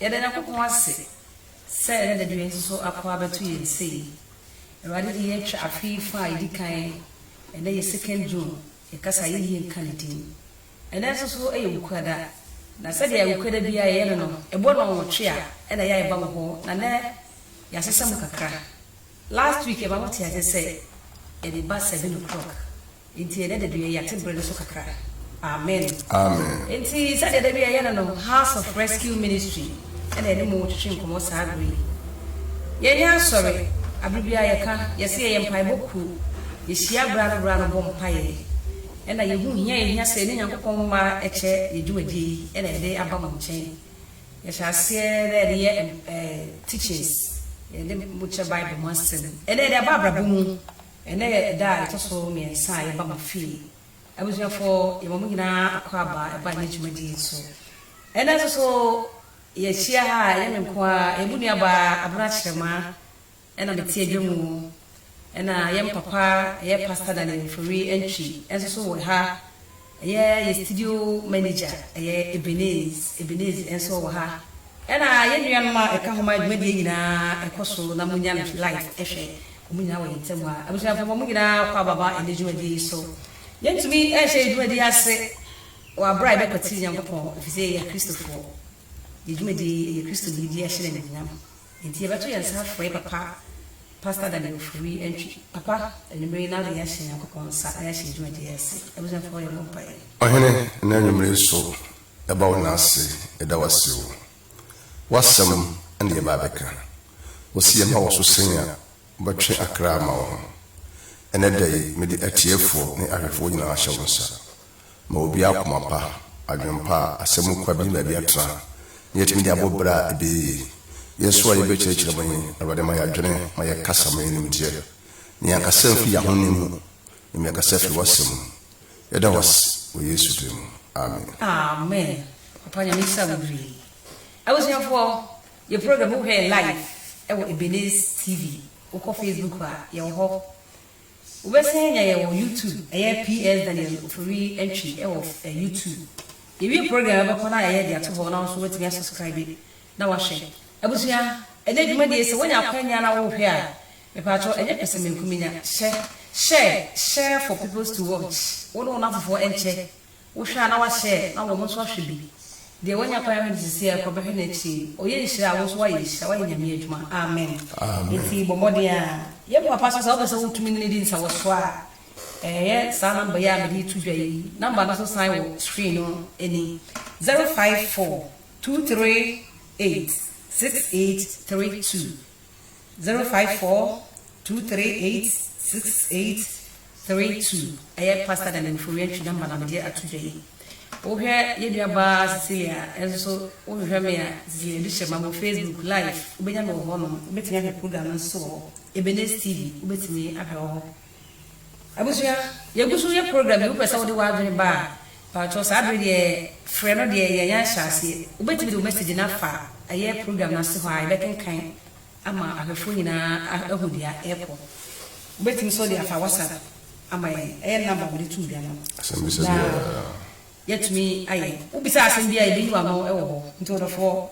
Yɛda Nyankopɔn ase sɛ ne dade wei nso so ako abɛto yɛn sei. Awurade de yɛatwa afe yi fã a ɛdi kan, ɛnnɛ yɛ second June, yɛkasa a yɛnhia nka ne din. Ɛnnɛ nso so yɛ Wukuada, na sɛdeɛ Wukuada biara yɛyɛ no no, ɛbɔ nnɔnwɔtwe a ɛna yɛ a yɛba mo hɔ, na nnɛ yɛasesa mu kakra. Last week yɛma mo tee aseɛ sɛ yɛde ba seven o'clock. Enti ɛnɛ da bi yɛ yɛate bere no so kakra. Amen. Amen. Enti sɛdeɛ da bi yɛyɛ no no, House of Rescue Ministry na yɛne mo retwetwe nkɔmmɔ saa bere yi. Yɛnyɛ asɔre, abere biara yɛka, yɛse yɛyɛ mpaebɔ kuo, yɛhyia bere ano bere ano bɔ mpaeɛ, ɛna yɛhu hia a yɛhia sɛ yɛne Nyankopɔn mma kyɛ yɛ dwumadie yi na yɛde aba mo nkyɛn. Yɛhyɛ aseɛ na yɛde yɛ ɛɛ teachings, yɛne mo kyɛ Bible mu asɛm, ɛna yɛde aba abrabɔ mu Ɛnnɛ yɛ ɛda a ɛtɔ so mmiɛnsa a yɛba mo fie. Abusuafoɔ, yɛma mo nyinaa akwaaba ɛba ɛnnɛ dwumadie yi so. Ɛnnɛ nso so yɛahyia ha a, ɛnyɛ me nko ara, ɛyɛ mo nuabaa Abena Kyerema na mete adwa mu. Ɛna yɛn papa, ɛyɛ Pastor Daniel Mfori Antwi nso so wɔ ha. Ɛyɛ yɛ studio manager ɛyɛ Ebeneez, Ebeneez nso wɔ ha. Ɛna yɛn nuanom a ɛka ho ma dwumadie nyinaa ɛkɔ so na monya no live ɛhwɛ. Wɔn nyinaa wɔ yɛn ntam ha. Abusuafoɔ mo nyinaa kɔ aba ba ɛnɛ dwumadie yi so. Yɛntumi ɛnhyɛ yɛn dwumadie yi ase wɔ aberɛ a yɛbɛkwati Nyankopɔn ɛfiri sɛ yɛyɛ Akristofoɔ. Yɛn dwumadie yi ɛyɛ Kristo ne yɛdi ahyɛ no animuonyam. Enti yɛbɛto yɛn nsa afrɛ Papa Pastor Daniel Ofori Antwi. Papa, anwummere yi na wode yɛn ahyɛ Nyankopɔn nsa na yɛahyɛ yɛn dwumadi yi ase. Abusuafoɔ yɛmmɔ mpaeɛ. Ɔhene, nnɛ anwummere yi so yɛba wo nan ase, yɛda wo ase o. W'asɛm na yɛba abɛka. Wose yɛmma wo so sɛnea wobɛtwe akra ama wo ho. Ɛnnɛ da yi mede atiefoɔ ne ahwɛfoɔ nyinaa ahyɛ wo nsa. ma obi akoma pa, adwene pa a asɛm mu kwa benya baabi atena, na yɛatumi de abɔ bra a ɛbɛyɛ yie. Yɛn nso a yɛbɛkyerɛkyerɛ mo yi, Awurade ma yɛadwene, ma yɛkasa ma yɛn nimdeɛ, na yɛn kasa mfi yɛn ahonim mu, mmom yɛn kasa firi w'asɛm mu. Yɛda wo ase wɔ Yesu din mu, amen. Amen papa nyame nhyira wo bebree. Abusuafoɔ yɛ program wohwɛ yɛ live ɛwɔ Ebenezer TV wokɔ Facebook a yɛwɔ hɔ. Wobɛsan anya yɛn wɔ YouTube, ɛyɛ PS Daniel Ofori Antwi wɔ YouTube. Yɛwie program a wobɛkɔ na yɛayɛ de ato hɔ na wo nso woatumi asubscribe na woahwɛ. Abusua, ɛnɛ dwumadie yi sɛ woanya akwanya na worehwɛ a, mepaakyɛw ɛnyɛ pɛsɛmenkominya, hyɛ, share, share for peoples to watch, wo ne wo nnamfofoɔ nkyɛ. Wohwɛ a na wahyɛ na wɔn nso ahwɛ bi. Deɛ wanya kwan ahwɛ no seesei ara kɔ bɛhwɛ no akyire. Ɔyɛ nhyira a wo nso woayɛ nhyira, woayɛ Nyame adwuma. Amen. Enti bɔ mmɔden ara. Yɛn papa nso sɛ wopɛ sɛ wotumi ne no di nsawɔsoɔ a, yɛ saa number yi a mede reto dwa yi. Number no nso san wɔ screen no ani, zero five four, two three eight, six eight three two. zero five four two three eight six eight three two ɛyɛ pastor dani mforiɛ ntwi namba na mede ato dwa yi wohwɛ yɛ nua baa cecilia ɛnso so wohwehwɛ me a cecilia de hyɛ ma mo facebook live wobɛnya me wɔ hɔ nom wobɛtumi ahwɛ program no nso wɔ hɔ ebenes tv wobɛtumi ahwɛ wɔ hɔ Abusua, yɛgu so yɛ program yi, wopɛ sɛ wode w'adwene ba a, mpakyɛw saa bere deɛ frɛ no deɛ yɛanya ahyɛ aseɛ. Wobɛtumi de wo message no afa ɛyɛ program no ase hɔ a yɛbɛkenkan ama ahwɛfoɔ nyinaa ahu deɛ ɛrekɔ. Wobɛtumi nso de afa WhatsApp ama yɛn, ɛyɛ number a mede too dwa no na yɛatumi ayɛ. Wobisa asɛm biara a yɛbɛyi w'ano wɔ hɔ. Nti ɔdɔfoɔ,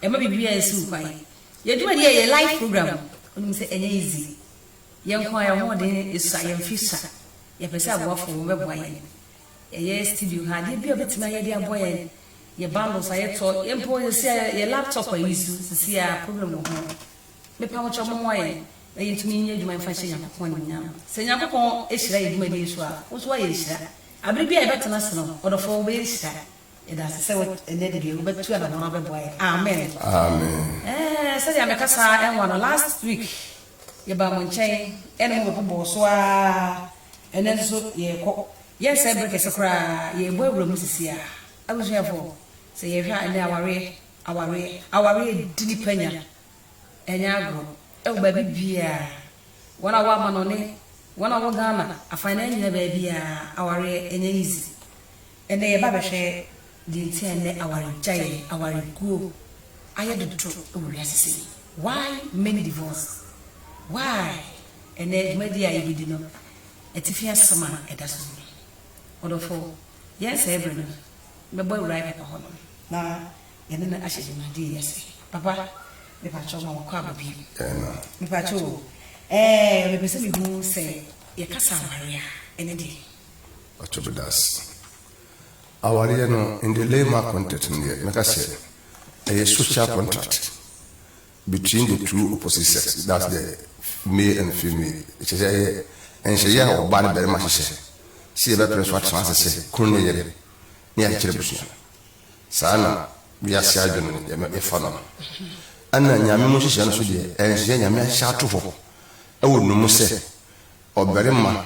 mma biribiara nsi wo kwan. Yɛn dwumadie yi, ɛyɛ live program, wonim sɛ ɛnyɛ easy. Yɛn nko a yɛn ahoɔden sua, yɛn mfe sua. Yɛpɛ sɛ aboafo bɛboa yɛn. Yɛyɛ studio ha adeɛ biara a wobɛtumi ayɛ de aboa yɛn. Yɛ bundles a yɛtɔ, yɛn mpo yɛsi a yɛ laptop ayi so sisi a problem wɔ ho. Mepa mo kyɛw mommoa yɛn na yɛntumi nyɛ adwuma yi mfa nhyɛ Nyankopɔn animuonyam. Sɛ Nyankopɔn hyira yɛn dwumadie yi so a, wo nso woayɛ nhyira. Abere biara a yɛbɛtena ase no, ɔdɔfoɔ, wobɛyɛ nhyira. Yɛda ase sɛ ɛnnɛ de deɛ wobɛtu anamɔn abɛboa yɛn. Amen. Amen. Ɛɛ sɛdeɛ a mekasa ara nwa no, last week yɛbaa mo nkyɛn ɛne mo bɛbobɔɔ so ara, ɛnnɛ nso yɛrekɔ. Yɛnsɛe bere kɛse koraa, yɛrebɔ awura mu sisiaa. Abusuafoɔ, sɛ yɛhwɛ a ɛnnɛ awareɛ, awareɛ, awareɛ di nnipa nya. Ɛnyɛ agorɔ. Ɛwɔ baabi biara. Wɔn a wɔwɔ amanɔne, wɔn a wɔwɔ Ghana, afan no nyinaa baabiara, awareɛ ɛnyɛ easy. Ɛnnɛ yɛba bɛhwɛ deɛ nti a ɛnnɛ awaregyaeɛ, awareguo, ayɛ dodo wɔ wiase sei. Why many divorce? Why? Ɛnnɛ dwumadie a yɛbɛdi no, atifi asɛm a ɛda so nie. Ɔdɔfo, yɛn saa berɛ no, mɛbɔ awura yɛ papa hɔnom na yɛne no ahyɛ dwumadie yi ase. Papa, mepaakyɛw ma wakɔ aba bio. Mepaakyɛw o, ɛɛ, mepɛ sɛ mehu sɛ yɛkasa aware a, ɛne deɛ. Ɔtɔbɔdas. Awareɛ no in the layman context no deɛ mɛka sɛ ɛyɛ social contract between the two opposite sex that's the male and female kyɛ sɛ ɛyɛ nhyehyɛ a ɔbaa ne barima hyehyɛ sɛ yɛbɛpere so atena ase sɛ kunu ne yere ne akyekyere busua saa na wiase adwene yɛfa no ɛna nyame mu nhyehyɛ no so deɛ ɛnhyehyɛ nyame ahyɛ ato hɔ ɛwɔ no mu sɛ ɔbarima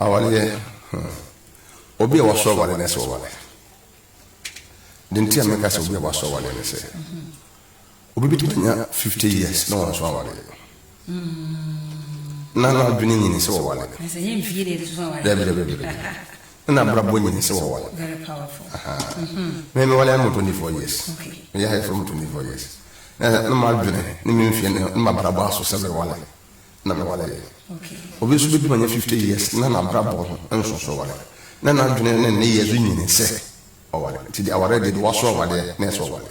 Aware yɛ hmm. Obi a waso aware na ɛsɛ ɔware. Deɛ nti a meka sɛ obi a waso aware ne sɛ, obi bɛtumi anya 50 years na wanso aware. Na na adwene nyini sɛ ɔware. Dabi dabi dabi. na abrabɔ nyɛ nse wɔ wɔn. Very powerful. Ahaa. Me me wale ano 24 years. Okay. Me yɛ ha from 24 years. Na na ma dwene ne me mfie ne ma brabɔ aso sɛ me wale. Na me wale yɛ. Okay. Obi nso bɛdi ma nyɛ 50 years na na brabɔ ho nso so wale. Na na dwene ne ne yɛ so nyini sɛ ɔwale. Nti de aware de de waso awadeɛ na ɛsɛ ɔwale.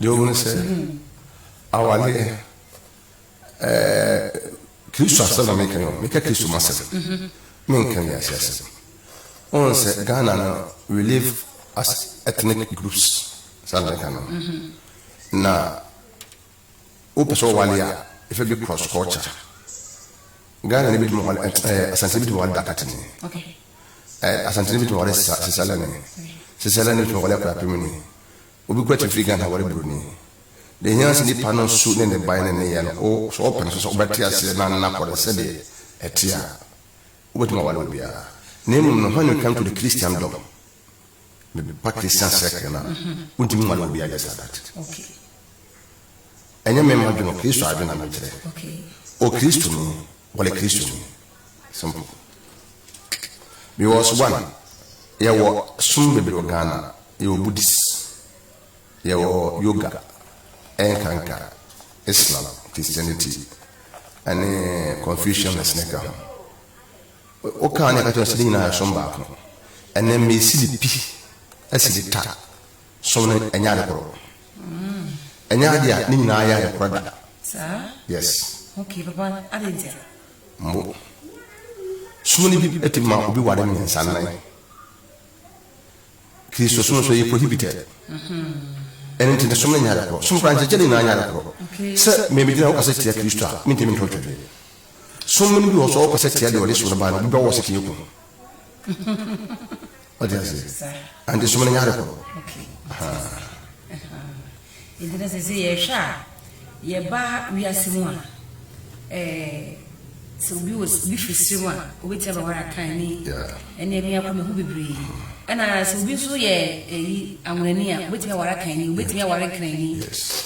Deɛ ɔhunu sɛ awadeɛ ɛɛ kristo asɛm na meka yɛn meka kristo ma sɛm menka wiase asɛm ɔhunu sɛ Ghana no we live as ethnic groups saa na meka no na wopɛ sɛ ɔwale a ɛfɛ bi cross culture Ghana ni bitumi wale ɛɛ Asantini bitumi wale Dakatini ɛɛ Asantini bitumi wale sisa sisalani sisalani bitumi wale akurapemini obi kura tumi firi Ghana wale buroni deɛ hia sɛ nipa no su ne ne ban ne ne yɛ no o sɛ ɔpɛ no so sɛ ɔbɛte aseɛ na nna kɔ no sɛdeɛ ɛte a wobɛtumi awale obiara na mmom no when you come to the Christendom me me partisan circle no a wontumi ma no obi ayɛ saa dat ɛnyɛ me ma dwene kristo adwene na mekyerɛ o kristo ni wɔle kristo ni simple because one yɛwɔ som bebree wɔ ghana yɛwɔ buddhist yɛwɔ yoga ɛnkanka islam christianity ɛne confucianist ne ka ho Wokaa ne ɛka kyerɛ no sɛ ne nyinaa yɛ som baako. Ɛnɛ mma esi ne pi asi ne ta. Som no ɛnyɛ ade koro. Ɛnyɛ ade a ne nyinaa yɛ ade koro da. Yes. Okay, papa, ade ntia. Mbo. Som no bi ɛti ma obi ware mmiɛnsa nan. Kristo som nso ɛyɛ prohibited. Ɛne nti ne som no nyɛ ade koro. Som kora nkyɛkyɛ ne nyinaa nyɛ ade koro. Sɛ mmɛmɛgyina wokasa tia Kristo a, mentimi nto twɛdeɛ. Som no bi wɔ hɔ sɛ ɔkɔ sɛ tia deɛ ɔde som no ba no, ɔbɛdɔ wɔ sɛ fie ko. Ɔde ase. Ante som no nyɛ ade koro. Ɛdi na sɛ sɛ yɛhwɛ a, yɛba wiase mu a, sɛ obi wɔ obi firi sere mu a, obɛtia bɛware akan ne ɛne ɛme akɔ mehu bebree. Ɛna sɛ obi nso yɛ ɛyi anwonani a, obɛtumi aware akan ni, obɛtumi aware nkran ni.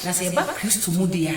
Na sɛ yɛba Kristo mu deɛ a,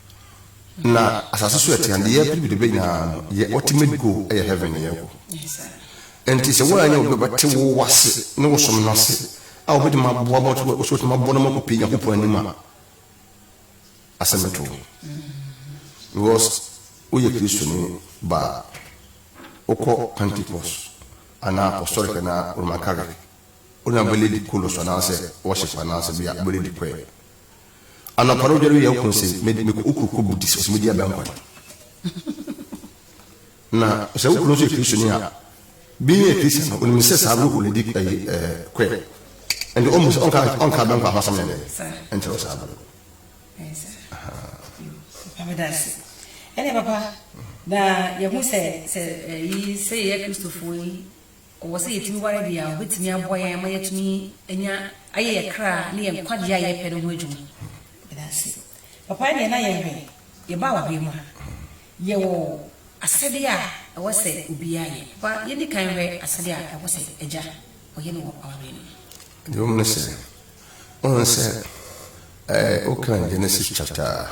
na asase so ɛte adeɛ yɛpere bi de bɛnya no yɛ ultimate goal ɛyɛ heaven ne yɛkɔ ɛnti sɛ woanyɛ wo bɛbɛte wo wase ne wo som no ase a wobɛtumi aboa ma wobɛtumi aboa no ma kɔpɛ nyankopɔn anim a asɛm ɛto because woyɛ kristoni ba wokɔ pentecost anaa apostolic anaa roman catholic wona bɛlɛ di kolo so anaasɛ worship anaasɛ bia bɛlɛ di kwɛ Anɔpa no dware yɛn kun se me me kɔ okuru kɔ budi sɛ me di abɛn kɔtɔ. Na sɛ okuru nso yɛ kristo ni a bi yɛ kristo no onim sɛ saa ruhu no di ɛyi ɛɛ kɔɛ. Ɛnti ɔmu sɛ ɔnka ɔnka abɛn kɔ ahosɛm yɛn dɛ ɛnkyɛ wɔ saa bɛn. Papa meda ase. Ɛne papa na yɛhu sɛ sɛ ɛyi sɛ yɛ kristofoɔ yi. Ɔwɔ sɛ yɛtumi ware deɛ a ɔbɛtumi aboa yɛn ama yɛatumi anya ayɛ yɛn kra ne yɛn nkwagyeɛ a yɛpɛ no ho adwuma. Yɛda ase. Papa ɛnneɛ na yɛn hwɛ, yɛbaa w'ahoeɛ mu ha. Yɛwɔ asɛdeɛ a ɛwɔ sɛ obiara yɛ. Papa yɛndi kan nhwɛ asɛdeɛ a ɛwɔ sɛ agya ɔyɛ no wɔ awareɛ no mu. Dwom no sɛ. Wohu sɛ ɛɛ wokan Genesis chapter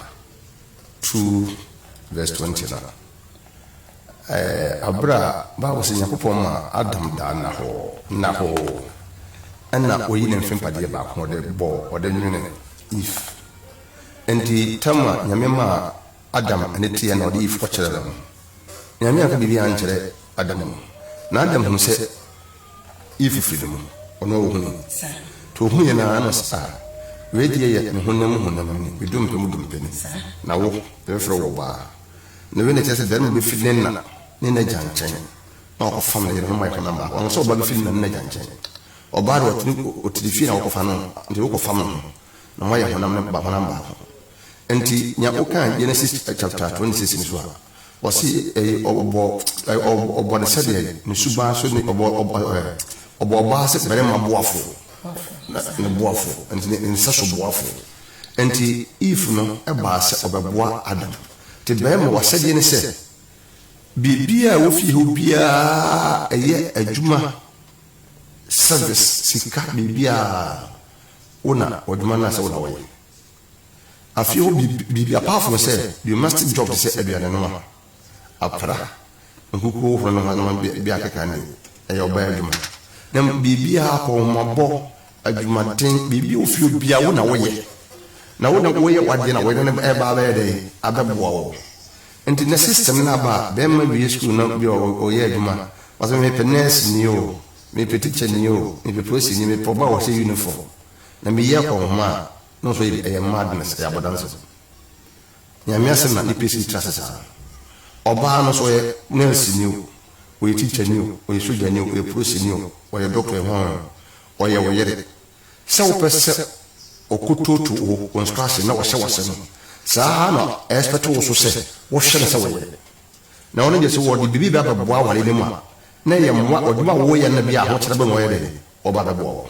two verse twenty no ɛɛ abere a Bible sɛ Nyankopɔn ma Adam daa nnahɔɔ nnahɔɔ ɛna oyi ne mfe mpadeɛ baako ɔde bɔɔ ɔde nwene Eve. Nti tam a Nyame maa Adam ɛne teɛ na ɔde Eve kɔkyerɛ no no Nyame anka biribiara ankyerɛ Adam o na Adam hunu sɛ Eve firi no mu, ɔno ara ɔhunuu. Nti ɔhuiɛ no ara na ɔse, ah, wei deɛ yɛ me honam mu honam ni, me dompe mu dompe ni, na wo, yɛbɛfrɛ wo ɔbaa. Na wei na ɛkyerɛ sɛ barima bɛfiri ne na ne n'agya nkyɛn na wakɔfam ne yere no ma ayɛ honam baako. Ɔho sɛ ɔbaa bɛfiri ne na ne n'agya nkyɛn. Ɔbaa deɛ ɔte ne, ɔte ne fie na wokɔfa no, nti wokɔfam ne ho na moayɛ honam ne ba honam baako. Nti nea wokaa Genesis chapter 26 no so a, Wɔse ɛyɛ ɔbɔ ɛyɛ ɔbɔ ne sɛdeɛ ne suban so ne ɔbɔ ɔbɔ ɛɛ ɔbɔ ɔbaa sɛ barima boafo na ne boafo nti ne nsa so boafo nti Eve no ɛbaa sɛ ɔbɛboa Adam te barima wasɛdeɛ ne sɛ biribiara a ɛwɔ fie hɔ biara ɛyɛ adwuma service sika biribiara wo na ɔdwuma no a sɛ wo na wɔyɛ. Afei ɔde biribi apaafoɔ sɛ domestic job te sɛ aduane noa, apra, nkukuo horoɔ ne nneɛma bi akeka ne ɛyɛ ɔbaa adwuma. Na biribiara akɔ homabɔ, adwumaden, biribi ofie obiara wo na woyɛ. Na wo na woyɛ wadeɛ na wɔyɛ no ɛba abɛyɛ dɛ abɛboa wo. Nti na system no aba a bɛrima wie school na bi ɔyɛ adwuma ɔsɛ mepɛ nurse ni o, mepɛ teacher ni o, mepɛ polisi ni, mepɛ ɔbaa ɔhyɛ uniform. Na meyi akɔ nhoma a Na ɔsɔ ebi ɛyɛ madness ɛyɛ abɔdansew Nyame asɛm na nipa si tra ase saa Ɔbaa no so ɔyɛ nurse ni o ɔyɛ teacher ni o ɔyɛ sogya ni o ɔyɛ police ni o ɔyɛ doctor ehɔn ɔyɛ wo yere sɛ wopɛ sɛ ɔkototo wo wo nso ase na ɔhyɛ wase no saa ara na ɛspɛte wo so sɛ wo hwɛ no sɛ wo yere na ɔno deɛ sɛ ɔde biribi ba bɛboa aware no mu a na ɛyɛ mmoa ɔdwuma a wo yɛ no bia ahokyere bɛ na ɔyɛ dɛn ɔba bɛboa wo.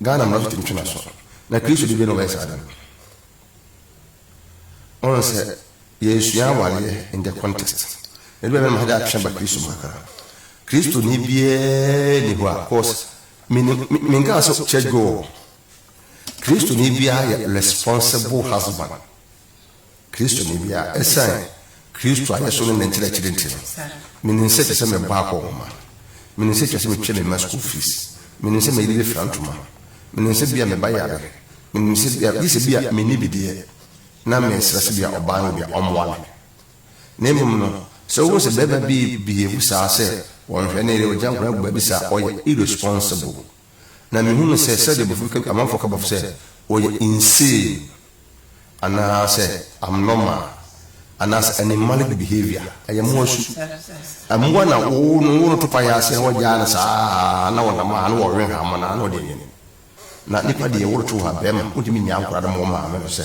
Ghana mmara so tumi twe n'aso, na Kristo de bɛn na ɔbɛyɛ saa ade no? Wohu sɛ yɛresua awareɛ in the context. Ɛde bɛn na mahagya atwe aba Kristo mu kakra? Kristoni biara ni hɔ a, cause menkaa sɛ church goer. Kristoni biara yɛ responsible husband. Kristoni bi a esiane Kristo ayeso ne ne nkyerɛkyere nti no, minim sɛ ɛsɛ sɛ mebɔ akɔ nhoma. Minim sɛ etwa sɛ metua me mma sukuu fees. Minim sɛ me yere befira ntoma. Minim sɛ ebia me ba yare. Minim sɛ ebia, gye sɛ ebia minni bi deɛ, na mesrɛ sɛ ebia ɔbaa no deɛ, ɔmmoa me. Na mmom no, sɛ wohu sɛ barima bi behave saa sɛ ɔnhwɛ ne yere, ogya nkwadaa gu baabi saa a, ɔyɛ irresponsible. Na mehu no sɛ sɛdeɛ bɔfo bi ka amanfoɔ ka bɔfo sɛ ɔyɛ insane anaa sɛ abnormal anaa sɛ animalic behaviour ɛyɛ mmoa su mmoa na wo no wo no to pa yɛ aseɛ na wagyaa no saa na wɔnam a na wɔwe ha mo na na ɔde nwene na nipa deɛ woro to ha bɛrima wontumi nyaa nkora no ma wɔn maame no sɛ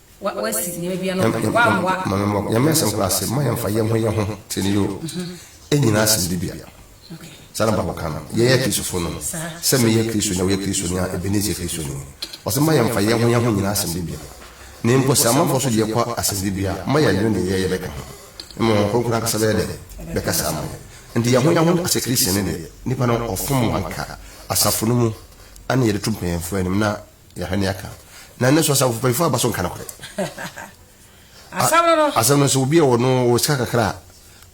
Wa wa si nneɛma bia no kwan. Wa mmoa. Mame mmɔ Nyame asɛm kora ase mma yɛn fa yɛn ho yɛn ho te ne yoo ɛnyina asem de bia saa na bible ka no yɛn yɛ Kristofo no sɛ me yɛ Kristo ni a wo yɛ Kristo ni a Ebenezer yɛ Kristo ni ɔse mma yɛn fa yɛn ho yɛn ho nyina asem de bia na mpo sɛ amanfoɔ so deɛ kɔ asem de bia mma yɛn nwene deɛ yɛ yɛ bɛka ho mma wɔn kronkron akasa bɛyɛ dɛ bɛka saa ma yɛn nti yɛn ho yɛn ho asɛ Christian ne deɛ nipa no ɔfom anka asafo no mu ɛne yɛde to mpanyinfoɔ anim na yɛhwɛ ne aka na ɛno nso asafo mpanyinfoɔ aba so nka nokorɛ asɛm no sɛ obi a wɔno wɔ sika kakra a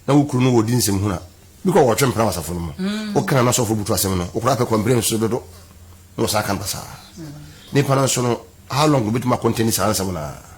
na wo kunu no wɔdi nsɛm hunu a bi kɔ wɔtwe mpena wɔ asafo no mu mm. wokra no asɔfo butu asɛm no wokora pɛ kɔmbrɛ nso dodo na wɔsan ka no basaa mm. nipa no nso no how long wobɛtumi akɔntɛni saa nsɛm naa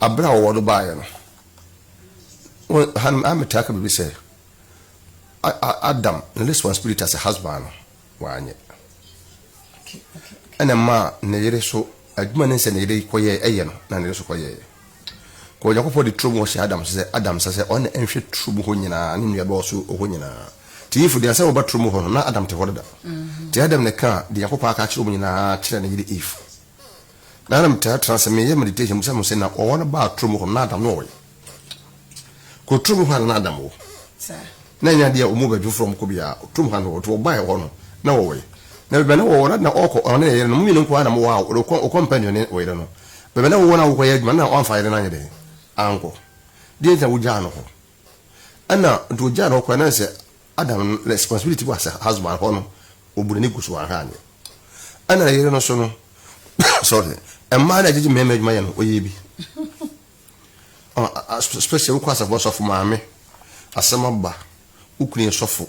Aber a ɔwɔ no baeɛ no, wo, ha no, metaa ka biribi sɛ, a, a, Adam ne responsibility as a husband no, wanyɛ. Okay, okay, okay. Ɛna mmaa ne yere so, adwuma ne sɛ ne yere kɔyɛ, ɛyɛ no, na ne yere so kɔyɛɛ. Kɔ Onyankopɔn de turo mu hɔ hyɛ Adam sɛ, Adam sɛ sɛ ɔne nhwɛ turo mu hɔ nyinaa, ne nnua dɔɔso hɔ nyinaa. Ti Eve deɛ sɛ wɔba turo mu hɔ no, na Adam te hɔ dada. Mm-hmm. Ti Adam ne ka deɛ Onyankopɔn aka akyerɛ wɔn nyinaa kyerɛ ne yere Eve. Na na metaa tena ase meyɛ meditation bisa me ho sɛ, na ɔwɔ no baa turo mu hɔ no na Adam no ɔwɔ he? Kɔ turo mu hɔ a na Adam wɔ. Na ɛnyɛ adeɛ a wɔn baabi foforɔ a wɔkɔ biara, turo mu hɔ a na ɔwɔ. Nti ɔbaeɛ hɔ no na ɔwɔ he? Na baabi a na ɔwɔ no na ɔrekɔ ɔne ne yere no, mo mmienu nko ara na mowɔ a wokɔ wokɔ mpɛ aduane ne wo yere no. Baabi a na wowɔ no a wokɔyɛ adwuma no na woamfa yere no anyɛ dɛn ankɔ. Deɛ nti na wogyaa no hɔ. Ɛna nti ɔgyaa no hɔ koraa na sɛ. Adam no responsibility was a husband hɔ no ɔbu n'ani gu so wanha anyɛ ɛna ne yere no so no sorry mmaa no agyegye mmarima adwuma yɛ no ɔyɛ bi special wokɔ asafo sɔfo maame asɛm aba wokunu yɛ sɔfo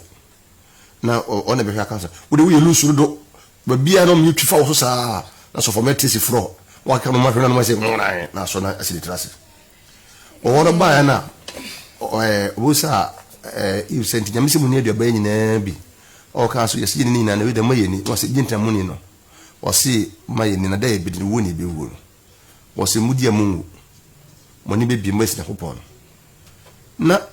na ɔna bɛhwɛ aka sɛ wode woyɛ lusu dodo babia no meyɛ twifa wɔ so saa na sɔfo mɛte si forɔ wakeka no mahwɛ no no masɛ na asɔ no asi ne tiri ase Ɔwɔrɔ baeɛ na ɔbɛbisaa Eve sɛ, Nti Nyame se monni aduaba yi nyinaa bi? Ɔkaa so, Yɛse yɛnni ne nyinaa na wei deɛ mma yɛnni. Na ɔse, Gye nti na monni no? Ɔse, Mma yɛnni na da a yɛbɛdi no, wuo na yɛbɛwuo no. Ɔse, Modi a monwu, moani bɛbue, moasi Nyankopɔn no. Na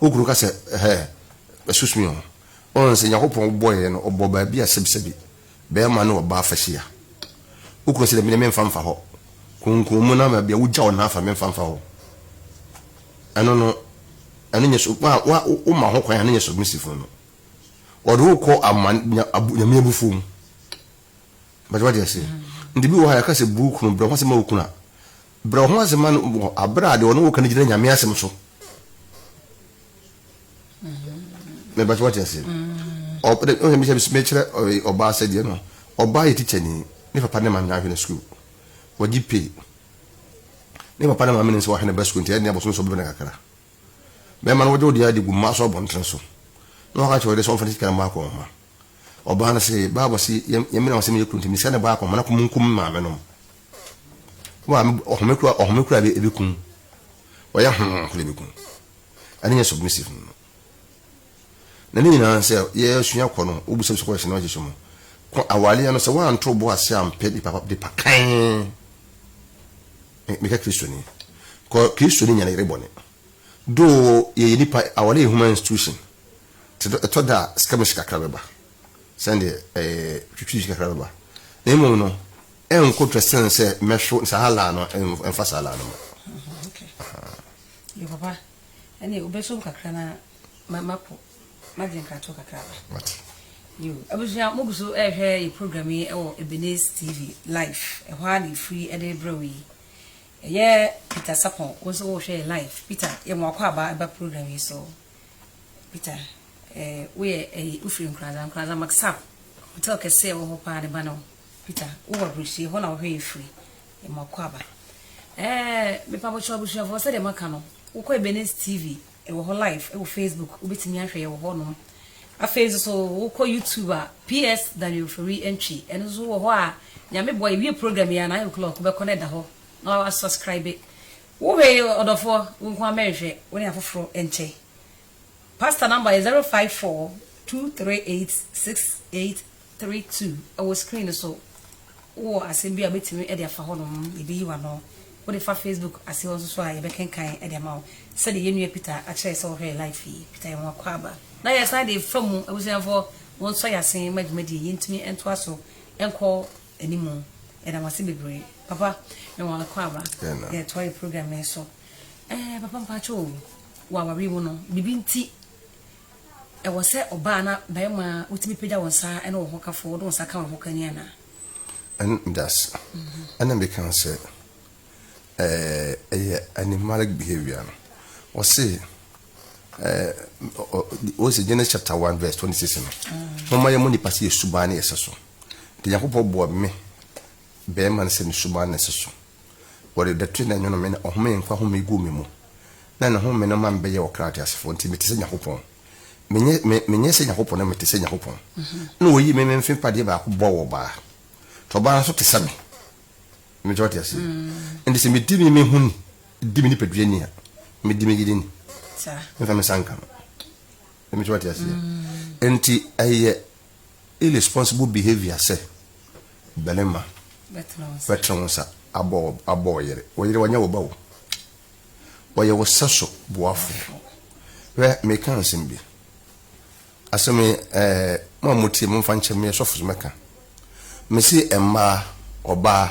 Wo kunu ka sɛ, Ɛhɛ, bɛsoso me ho. Woahu sɛ Nyankopɔn bɔɔ yɛn no, ɔbɔɔ baabi a sɛbisɛbi, bɛɛma ne ɔbaa fa hyia. Wo kunu se, Dabi, na memfa mfa hɔ. Kunkum me na ma bia wogya wo nan fa memfa mfa hɔ. Ɛno no, ɛno nyɛ sub, wa, wa, woma ho kwan a, ɛno nyɛ submissive no no. Ɔde wo kɔ ama, nya, abu, Nyame abufuo mu. But wate aseɛ? Nti bi wɔ hɔ a yɛka sɛ bu wo kunu brɛ ho ase ma wo kunu a, Brɛ wo ho ase ma no wɔ bere a deɛ ɔne wo ka no gyina Nyame asɛm so. Me ba so wate aseɛ. Ɔba de, ɔhwɛ mi sɛ me kyerɛ ɔbaa sɛ deɛ no, ɔbaa yɛ teacher ni, ne papa ne maame na ahwɛ no school. Wɔgye pay. Ne papa ne maame nim sɛ wɔahwɛ ne ba school nti ɛne abosom so bɛbɛ no kakra. Bɛrima no wɔgye wo deɛ adi gu mmaa so abɔntene so. Na wɔaka kyerɛ wo deɛ sɛ wɔmfa ne sika no mmɔ akɔnhoma. Ɔbaa no se, Bible se yɛmmena wɔn sɛ meyɛ kuro nti mesika no bɔ akɔnhoma na kɔmunkum me maame nom. Maame ɔhome kura ɔhome kura bi ebi kun. Ɔyɛ ho kura bi kun. Ɛne nyɛ submissive no. Na ne nyinaa sɛ yɛsua kɔ no, wobisa bisa question na wɔgye so mu. Kɔ awaleɛ no sɛ woanto bo ase ampɛ nipa pa nipa kan. Meka Kristoni. Kɔ Kristoni nya ne yere bɔne. Do yɛyɛ nipa awale yɛ human institution. Te ɛtɔ da a sika me sika kakra bɛba. Sɛn deɛ ɛɛ twitwi sika kakra bɛba. Na mmom no ɛnko twɛ sen sɛ mɛhwe saa laa no ɛmfa saa laa no mu. Yo papa, ɛne wobɛsom kakra na makɔ magye nkratoɔ kakra ba. Mate. Yo, abusua mogu so ɛrehwɛ yɛ program yi ɛwɔ Ebenezer TV live, ɛhɔ ara na ɛfiri ɛde brɛ wo yi. Ɛyɛ Peter Sapon, wo nso wohwɛ yɛ live. Peter, yɛma wakɔ aba ɛba program yi so. Peter, eh, woyɛ ɛyi, wofiri Nkoranza, Nkoranza Maksap, hotel kɛse ɛwɔ hɔ paa ne ba no. Peter, wo wɔ Aburukyire, hɔ na wo hwɛ yɛ firi yɛ mo akwaaba. Ɛɛ, me pa bɔkyerɛ abusuafoɔ sɛ deɛ maka no, wo kɔ Ebenezer TV, ɛwɔ hɔ live, ɛwɔ Facebook, wo bɛtumi ahwɛ yɛ wɔ hɔ nom. Afei nso so, wo kɔ YouTube a, PS Daniel Fori Ntwi, ɛno nso wɔ hɔ a, nyame boa yɛ wie program yi a, nine o'clock, wo bɛkɔ na ɛda hɔ, na wa subscribe. Wo hwɛ yɛ ɔdɔfoɔ, wo nkoa mɛnhwɛ, wo ne afoforɔ nkyɛ. Pastor number yɛ zero five four two three eight six eight three two ɛwɔ screen no so wowɔ asɛm bi a wobɛtumi de afa hɔ nom yɛbɛyi w'ano wode fa Facebook ase hɔ nso so a yɛbɛkenkan de ama wo sɛdeɛ yɛn nua Peter akyerɛ sɛ ɔhwɛ life yi Peter yɛn wakɔ aba na yɛsan de fa mu abusuafoɔ wɔn nso yɛ asen ma dwumadie yɛntumi ntoa so nkɔ animu yɛda mo ase bebree papa yɛn wakɔ aba yɛtoa yɛ program no so Ɛɛ papa mpakyɛ o wɔ awareɛ mu no biribi nti ɛwɔ sɛ ɔbaa na barima wotumi pagya wo nsa ɛne wo ho kafo wode wo nsa ka wo ho kani anaa? Ɛn das ɛna mi kan sɛ ɛɛ ɛyɛ animalic behavior no ɔse ɛɛ ɔ ɔyɛ sɛ Genesis chapter one verse twenty six no mo ma yɛ mo nipa sɛ yɛ suban ne yɛ sɛ so nti Nyankopɔn bɔɔ me Bɛɛma no sɛ ne suban na ɛse so. Wɔde dɛtwe na ɛnwono me na ɔhome nkwa home guu me mu, na ne home no ma me bɛyɛɛ ɔkra teasefoɔ, nti mete sɛ Nyankopɔn. Menyɛ, me, menyɛ sɛ Nyankopɔn na mete sɛ Nyankopɔn. Ɛna wɔyii me me mfe padeɛ baako bɔɔ wɔ ɔbaa, nti ɔbaa no nso te sɛ me. Mete wate aseɛ? Ɛnti sɛ medi me me ho ni, di me nipadua ni a, medi me yere ni. Memfa me nsa nka no. Mete wate aseɛ? Ɛnti ɛyɛ Irresponsible behavior sɛ barima bɛtene wo nsa abɔ wo yere. Wo yere ɔnyɛ wo ba o. Ɔyɛ wo sɛso boafoɔ. Hwɛ, meka nsɛm bi. Asɛm yi, eh, mo a motie, momfa nkyɛ me, meyɛ sɔfo so mɛka. Mese mmaa, ɔbaa,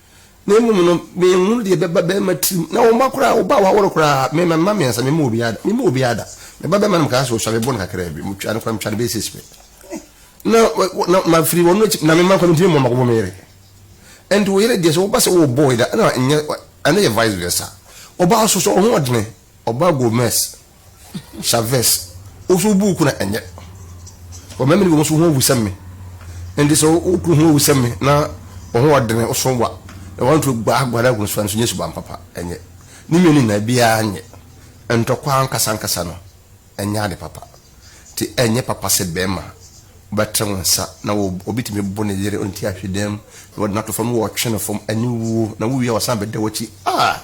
na mmom no menhunu deɛ ɛbɛba bɛrima tirim, na wɔmma koraa wo ba waworo koraa, mema mma mmiɛnsa, memma obiara da, memma obiara da, me ba bɛrima no mekaa sɛ ɔsua mebɔ no kakraa bi, metwa no koraa metwa no bɛyɛ six pɛ, na na mafiri wɔn akyi, na mema nkwa mentumi mmɔ mako bɔ me yere, ɛnti wo yere deɛ sɛ woba sɛ wo boy da, ɛna ɛnyɛ ɛna yɛ vice versa, ɔbaa soso ɔhoɔdene, ɔbaa Gomez. Chavez, Wo so wobu wo kunu a, ɛnyɛ? Wɔma me ne wɔn so ho awu sɛ me. Enti sɛ wo kunu ho awu sɛ me na wo ho wɔ dene, wo so wa, na woanturo guaguaa ne akunu so a, ɛno nso nyɛ suban papa, ɛnyɛ? Ne mmienu nyinaa, biara nyɛ. Ntɔkwaw ankasa ankasa no, ɛnyɛ ade papa. Enti ɛnyɛ papa sɛ barima wobɛtene wo nsa na wo, obi tumi bo ne yere ɔnti ahwedeɛ mu, na wɔde no ato fam, na wɔtwe no fam, aniwuo, na wowie a wɔsan bɛda w'akyi. Ah!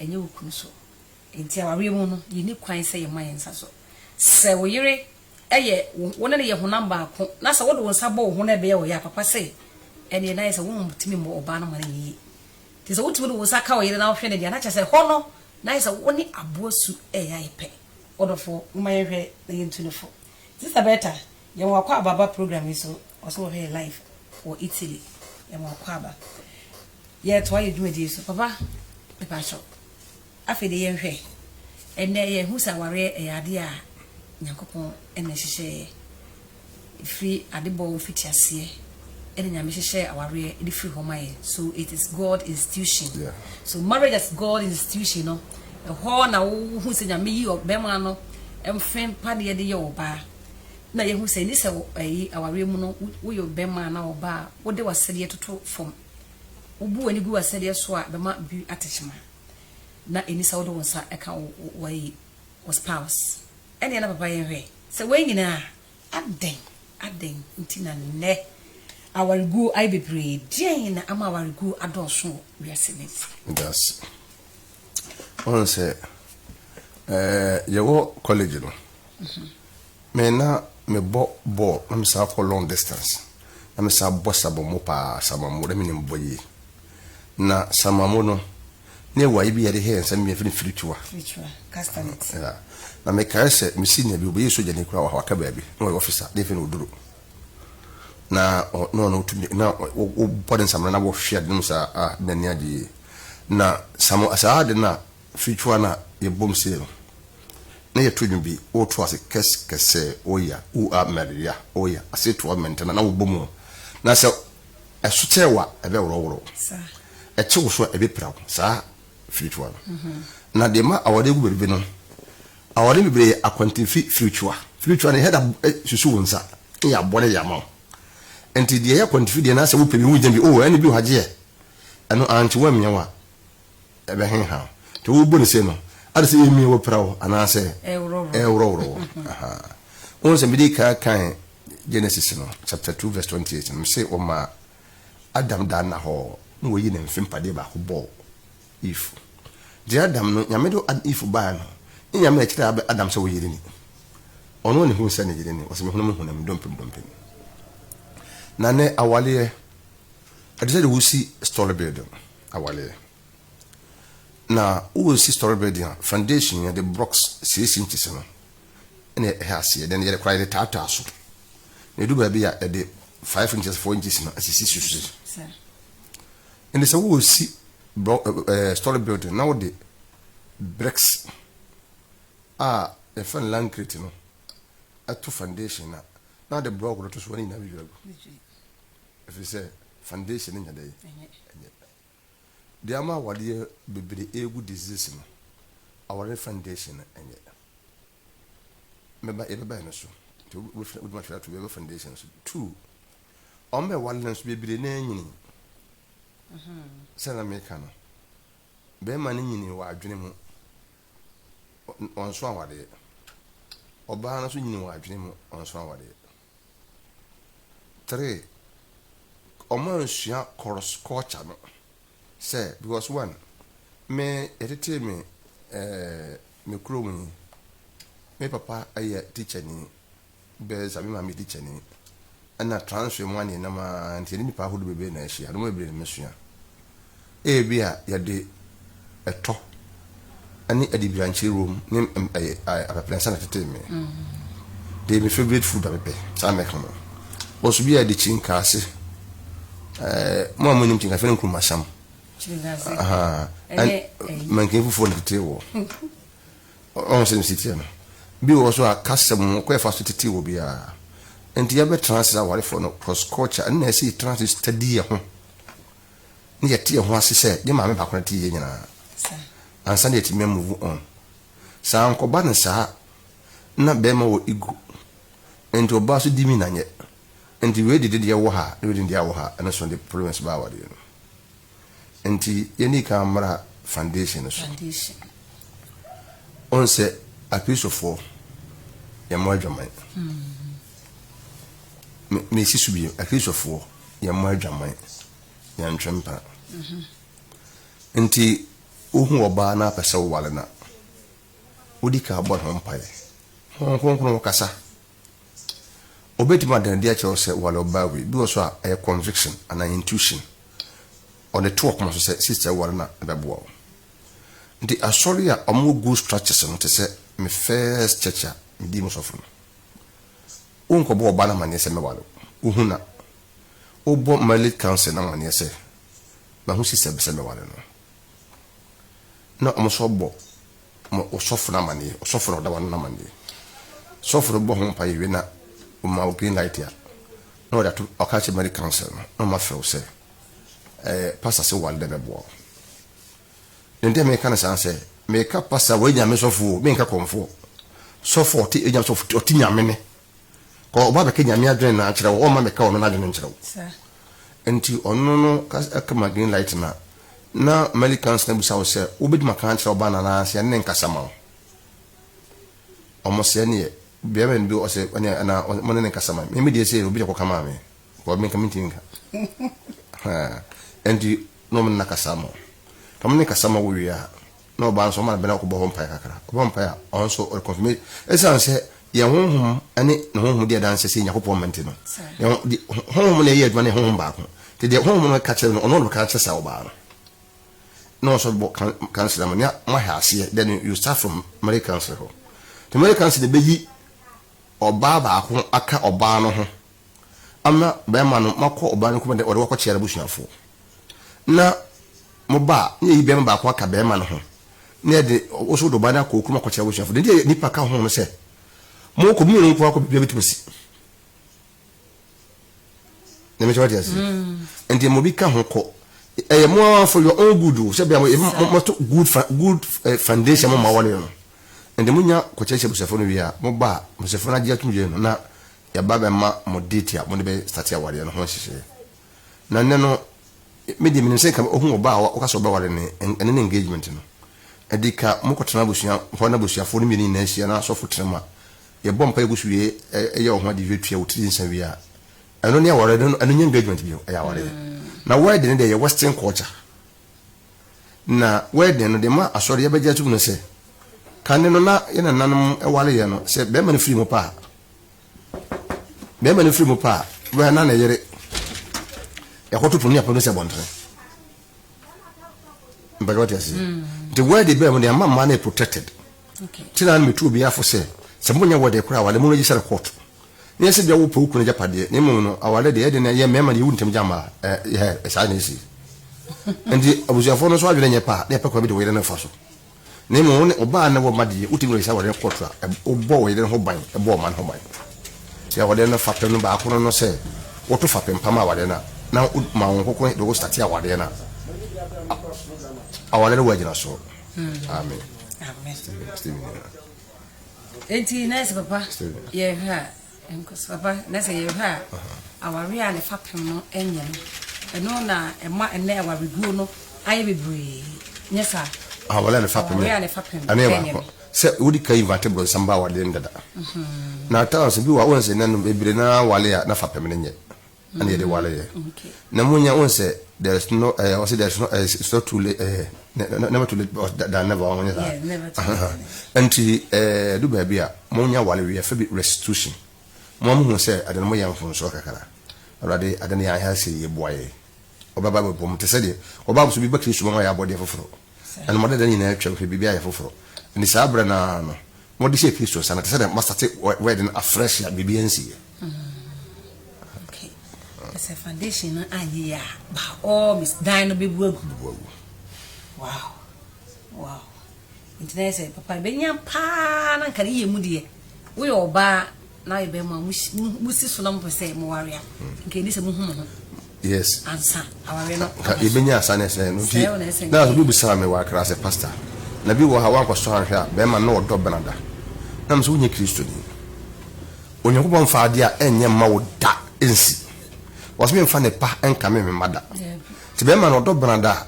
ɛnyɛ wo kunu so. Enti awareɛ mu no, yɛnni kwan sɛ yɛma yɛn nsa so. Sɛ wo yere yɛ wo, wo ne no yɛ honam baako na sɛ wode wo nsa bɔ wo ho na ɛbɛyɛ ɔyea papa sɛ, ɛnneɛ na ayɛ sɛ wontumi mmɔ ɔbaa no mmara yie. Nti sɛ wotumi de wo nsa ka wo yere na wohwɛ no deɛ a, na kyerɛ sɛ ɛhɔ no, na ayɛ sɛ wo ne aboa su reyɛ ayɛ pɛ. Ɔdɔfoɔ, momma yɛnhwɛ na yɛntu no fo. Sista Bertha, yɛma wakɔ aba aba program yi so. Ɔsɛ wɔhwɛ yɛ live wɔ Italy yɛma ɔkwaaba yɛtoa yɛ dwumadie so papa mepakyɛ afei de yɛnhwɛ ɛnɛ yɛhu sɛ awareɛ ɛyɛ adeɛ a Nyankopɔn ɛna hyehyɛeɛ ɛfiri adebɔ mfitiaseɛ ɛna Nyame hyehyɛɛ awareɛ ɛde firi hɔ ma yɛn so it is God institution so marriage as God institution no ɛhɔ na wohu sɛ Nyame yi bɛma no mfempa ne yɛde yɛ ɔbaa na yɛahu sɛ ɛnni sɛ ɛyi awareɛ mu no woyɛ ɔbarima anaa ɔbaa a wode w'asɛdeɛ toto fam. Wobu w'ani gu w'asɛdeɛ so a ɛbɛma bi atekyema. Na ɛnni sɛ wode wo nsa ka w'ayi, wo spouse. Ɛnneɛ na papa yɛnhwɛ sɛ wei nyinaa a adɛn adɛn nti na nnɛ awareguo ayɛ bebree? Deɛn na ama awareguo adɔɔso wɔ wiase nnɛ mu? Medase. Woahu sɛ ɛɛ yɛwɔ college no Me na mebɔ bɔɔl na mesan kɔ long distance na mesan bɔ samamo paa, samamo na menim bɔ yie. Na samamo no na yɛwɔ ayi bi yɛde hɛ yɛn nsa mmienu yɛfrɛ no firitua. Firitua, castanets. Yeah. Na mekae sɛ me senior bi ɔbɛyɛ sogyani koraa wɔ ha waka baabi na ɔyɛ officer na yɛfrɛ no Oduro. Na na ɔno ɔtumi na wobɔ ne nsamena na wɔhwe ade no mu saa ah na n'ani agye yie. Na samo saa ade no a Fitwa na yɛ bom se no na yɛ to dwom bi wo to ase kɛs kɛsɛ oya ua mɛria oya ase toa mɛntɛna na wo bɔ mu na sɛ ɛso kyɛ wa ɛbɛ worɔ worɔ ɛkye wo so a ɛbɛ pira wo saa fitwa no na de ma awɔde gu bɛbibi no awɔde bɛbire yɛ akwantinfi fitwa fitwa ne hɛda susu wo nsa ne yɛ abɔ ne yɛ ama wo nti deɛ yɛ akwantinfi deɛ na sɛ wo pɛ bi wo gya bi o ɛne bi o hagyeɛ ɛno ankye wo amia wa ɛbɛheha wo. Nti wobu no sei no, ade sɛ yɛmie wopira wo anaasɛ ɛreworɔworɔ wo. Wohu sɛ mede kan kan Genesis no chapter 2 verse 28 no, mese wɔmaa Adam daa nna hɔ na wɔyi ne mfe mpadeɛ baako bɔɔ Eve. Nti Adam no, Nyame de Eve baeɛ no, ne Nyame na ɛkyerɛɛ Adam sɛ wo yere ni. Ɔno na ɛhuu sɛ ne yere ni, wɔsɛ mehunu me honam, dompem dompem. Na nɛ awaleɛ, ɛde sɛ de wosi story building. Awareɛ. Na woresi storey building a, foundation no yɛde blocks six inches no na ɛhyɛ aseɛ, then yɛde koraa yɛde taataa so, na ɛdu baabi a yɛde five inches, four inches no asisi so si. Ɛnti sɛ woresi storey building na wode bricks a yɛfrɛ no lancrete no to foundation no a, na wode block no to so a ne nyinaa bɛdwiri agu. Efisɛ foundation no nyɛ dɛn? Ɛnyɛ pɛ. Deɛ ama awadeɛ bebree regu disease no, aware no foundation no nyɛ. Mɛba, yɛbɛba ɛno so. Nti wobɛfiri, wode mahwɛ ato bɛbɛ foundation no so. Two, wɔn bɛ wale no nso bebree na anyini. Sɛ na meka no, bɛrima no nyini wɔ adwene mu, ɔ- ɔnso awadeɛ. Ɔbaa no nso nyini wɔ adwene mu, ɔnso awadeɛ. three ɔmo ansua kɔrs kɔlkya no sɛ bikɔs one me yɛtetee me ɛɛ me kurom yi me papa yɛ tikyani bɛɛ sa me maame yɛ tikyani ɛna transfer mu aneɛnam aa nti yɛne nipa ahodoɔ bebree na ahyia nnoɔma bebree na mesua Ebia yɛde ɛtɔ ne adibirankyire wom ne apɛprɛnsa na ɛtetee me. Ɛyɛ me favorite food a mepɛ, saa na mɛka no. Wɔso bi a yɛde kyirinkaase, mo a monim kyirinkaase, yɛfrɛ no nkurumasam. Manken fufuo na ɛtetee wɔ. Ɔhu sɛ ne si teɛ no. Bi wɔ so a kasa mu kɔ ɛfa so tetee wɔ biara. Nti yɛbɛtena ase sɛ awarefoɔ no cross culture ɛna ɛsɛ yɛtena ase study yɛn ho. na yɛte yɛn ho ase sɛ yɛn maame baako na ɛte yɛn nyinaa ansa na yɛatumi amuvu on. Sɛ ankɔba no saa a, na barima wɔ ego, enti ɔbaa nso di mi na nyɛ. Enti wei de deɛ wɔ ha na wei de deɛ wɔ ha, ɛno so de problems baa awadeɛ no. Enti yɛnni kan mmra foundation no so. Wohu sɛ Akristofoɔ, yɛmmɔ adwaman. Mesi so bio, Akristofoɔ. Yɛmmɔ adwaman, yɛntwe mpena. Nti wohu ɔbaa na apɛ sɛ woware no a, wodi kan bɔ ne ho mpaeɛ. Honhom Kronkron kasa. Ɔbɛtumi ada no adi akyerɛ wo sɛ ware ɔbaa wei. Bi wɔ so a, ɛyɛ conviction anaa intuition. Ɔde to ɔkoma so sɛ sister yi ware no a, ɛbɛboa wo. Nti asɔre a wɔwɔ good structures no te sɛ me first church a medii mu sɔfo no. Wonkɔbɔ ɔbaa no amanneɛ sɛ mɛware wo. Wuhu na wobɔ Marriage Council no amanneɛ sɛ mahu sista bi sɛ mɛware no. Na wɔn nso abɔ mo ɔsɔfo no amanneɛ, ɔsɔfo na ɔda w'ano no amanneɛ. Sɔfo no bɔ ho mpaeɛ wie na ɔma wo green light a, na ɔde ato, ɔka akyerɛ Marriage Council no, na wɔafrɛ wo sɛ, ɛɛ, Pastor se woware dɛ mɛboa wo. Ne nti a meka no saa sɛ, meka pasa wɔ Anyame sɔfo o, menka kɔmfoɔ. Sɔfo a ɔte Anyame sɔfo, ɔte Nyame ne. Kɔ ɔba bɛka Nyame adwene no akyerɛ wo, ɔmma meka ɔno n'adwene nkyerɛ wo. Nti ɔno no ka ma green light na, na Melly Kans na bisa wo sɛ, wo bɛtumi aka akyerɛ ɔba no anaa sɛ yɛne no nkasa ma wo? Ɔmo sɛ ɛneɛ, bɛɛma no bi ɔsɛ ɛneɛ anaa mo ne no nkasa ma me. Me deɛ sei no, obi na ɛkɔ ka maa me. Because me nka me ntumi nka. Ɛnti na ɔmo nna kasa ama wo. Ka mo ne kasa ma wo wie a, na ɔbaa nso ɔma no bɛ na ɔkɔbɔ hɔ mpaeɛ kakra. Ɔbɔ mpaeɛ a, ɔno nso ɔde confirmation. Ɛsiane sɛ yɛn honhom ne ne honhom di adanseɛ sɛ Nyankopɔn mma nti no, yɛn honhom na ɛyɛ adwuma na yɛn honhom baako. Nti deɛ honhom no ka kyerɛ no, ɔno na ɔbɛka akyerɛ saa ɔbaa no. Na ɔsɔ bɛbɔ council ama nea moahɛ aseɛ, then you start from marriage council hɔ. Nti marriage council na ɛbɛyi ɔbaa baako aka ɔbaa no ho. ama bɛrima no ma kɔ ɔbaa no kurom dɛ ɔde wo akɔkyea n'abusuafo, na mo ba a, na yɛyi bɛrima baako aka bɛrima no ho, na yɛde wo nso wode ɔbaa no akɔ wo kurom akɔkyea w'abusuafo. Dɛn nti na nnipa ka ho no sɛ, Monkɔ, mo mmienu nko ara kɔ, biribiara betumi asi? Na mɛkyɛ wate ase. Nti ma obi ka ho kɔ. Ɛyɛ mo ara for your own good o, sɛ bia moto good, good eh, foundation mo ma wɔne no. Nti monya kɔkyerɛkyerɛ abusuafo no wie a, mo ba a, abusuafo no agye atum yie no, na yɛba bɛma mo date a mode bɛ starte awareɛ no ho nhyehyɛeɛ. Na nnɛ no, me deɛ menim sɛ nka wohu ɔbaa a woka sɛ wobɛware no ɛ, ɛno ne engagement no. Ɛde ka mokɔtena abusua hɔ na abusuafoɔ no mmienu nyinaa hyia na asɔfo tena mu a, yɛbɔ mpaeɛ gu so wie yɛ wo ho adeɛ wie tua wo tiri nsa wie a, ɛno ne awareɛ no, ɛno nyɛ engagement bio, ɛyɛ awareɛ. Na wedding no deɛ ɛyɛ western culture. Na wedding no, deɛ ma asɔre yɛbɛgye atom ne sɛ, ka nnɛ no na yɛn nananom wareɛ no, sɛ bɛrima no firi mu pɛ a, Bɛɛma no firi mu pɛ a, wura na ne yere ɛkɔto pono ne apono sɛ bɔntene. Mpɛgɛ wate aseɛ. Mm. Nti word bɛɛ mu deɛ ama mmaa no yɛ protected. Okay. Ti na metu obi afo sɛ sɛ monyɛ word kora awale mu no gye sɛ court. Ne yɛ sɛ bia wopɛ okunu gya padeɛ ne mmom no awale deɛ ɛde no yɛ mmarima deɛ ɛwu ntɛm gya mmaa. Ɛɛ saa na ɛsi. Nti abusuafoɔ no nso adwene nyɛ paa na yɛpɛ kwan bi de wo yere no fa so. Na mmom wo ne ɔbaa ne wo mma de yɛ, wotumi wɔ nhyira wɔ ne kɔɔto a, wobɔ wo yere no ho ban, bɔ ɔma no ho ban. Sɛ awadeɛ no fapem no baako no no sɛ woto fapem pa ma awadeɛ no a, na woma wo nkoko de wo state awadeɛ no a, awadeɛ no wɔ agyina soɔ. Amen. Amen. Enti nurse papa, yɛhwɛ a, Nkɔsoaba, na sɛ yɛhwɛ a awareɛ a ne fapem no nyɛ no, ɛno na ɛma ɛnnɛ awareguo no ayɛ bebree, nyɛ saa? Awareɛ a ne fapem no, ɛno yɛ baako. Sɛ wode ka invate bronsam ba awareɛ no dada. Na at times bi wɔ hɔ a wohu sɛ nnɛ no bebree no ara ware a na fapem no nyɛ. ɛna yɛde ware yɛ na mo nya wɔn sɛ there is no ɛɛ wɔn sɛ there is no ɛɛ it's not too late ɛɛ never too late but than never wɔn nyɛ saa ɛnti ɛɛ do baabi a mo nya ware wiɛ fɛ bi restitution mo a mo hu sɛ ɛde no mo yɛ mfonsoɔ kakra awurade ɛde no yɛ ahɛ sɛ yɛ bua yɛ ɔbɛba bɛbɔ mo te sɛ deɛ ɔbaa mo so bi bɛ kiri suma ma yɛ abɔdeɛ foforɔ. na ne mmadadɛn nyinaa atwam hwɛ biribiara yɛ foforo. Enti saa bere no ara no, wɔde hyɛɛ Kristo nsa no te sɛ dɛ wɔastate wɛɛde no afresh a biribiara nsii ɛ. Kyerɛ sɛ foundation no anyɛ yie a, by all means, dan no bɛbu agu. Bɛbu agu. Wow! Wow! Nti na yɛ sɛ, papa, ɛbɛnya paa na nka ne yɛ mu deɛ, woyɛ ɔbaa. na ayɛ bɛrima a mosi so na mopɛ sɛ moware a nka ɛni sɛ mohu mo ho yes ansa aware no yɛbɛnya asa ne sɛ no nti na so bibisaa me wakra sɛ pastor na bi wɔ ha woankɔsɔ anhwɛ a bɛrima na ɔdɔ benada na mesɛ wonyɛ kristoni onyankopɔn mfa adeɛ a ɛnyɛ mma wo da nsi wɔsɛ memfa ne pa nka me mema da nti bɛrima na ɔdɔ benada a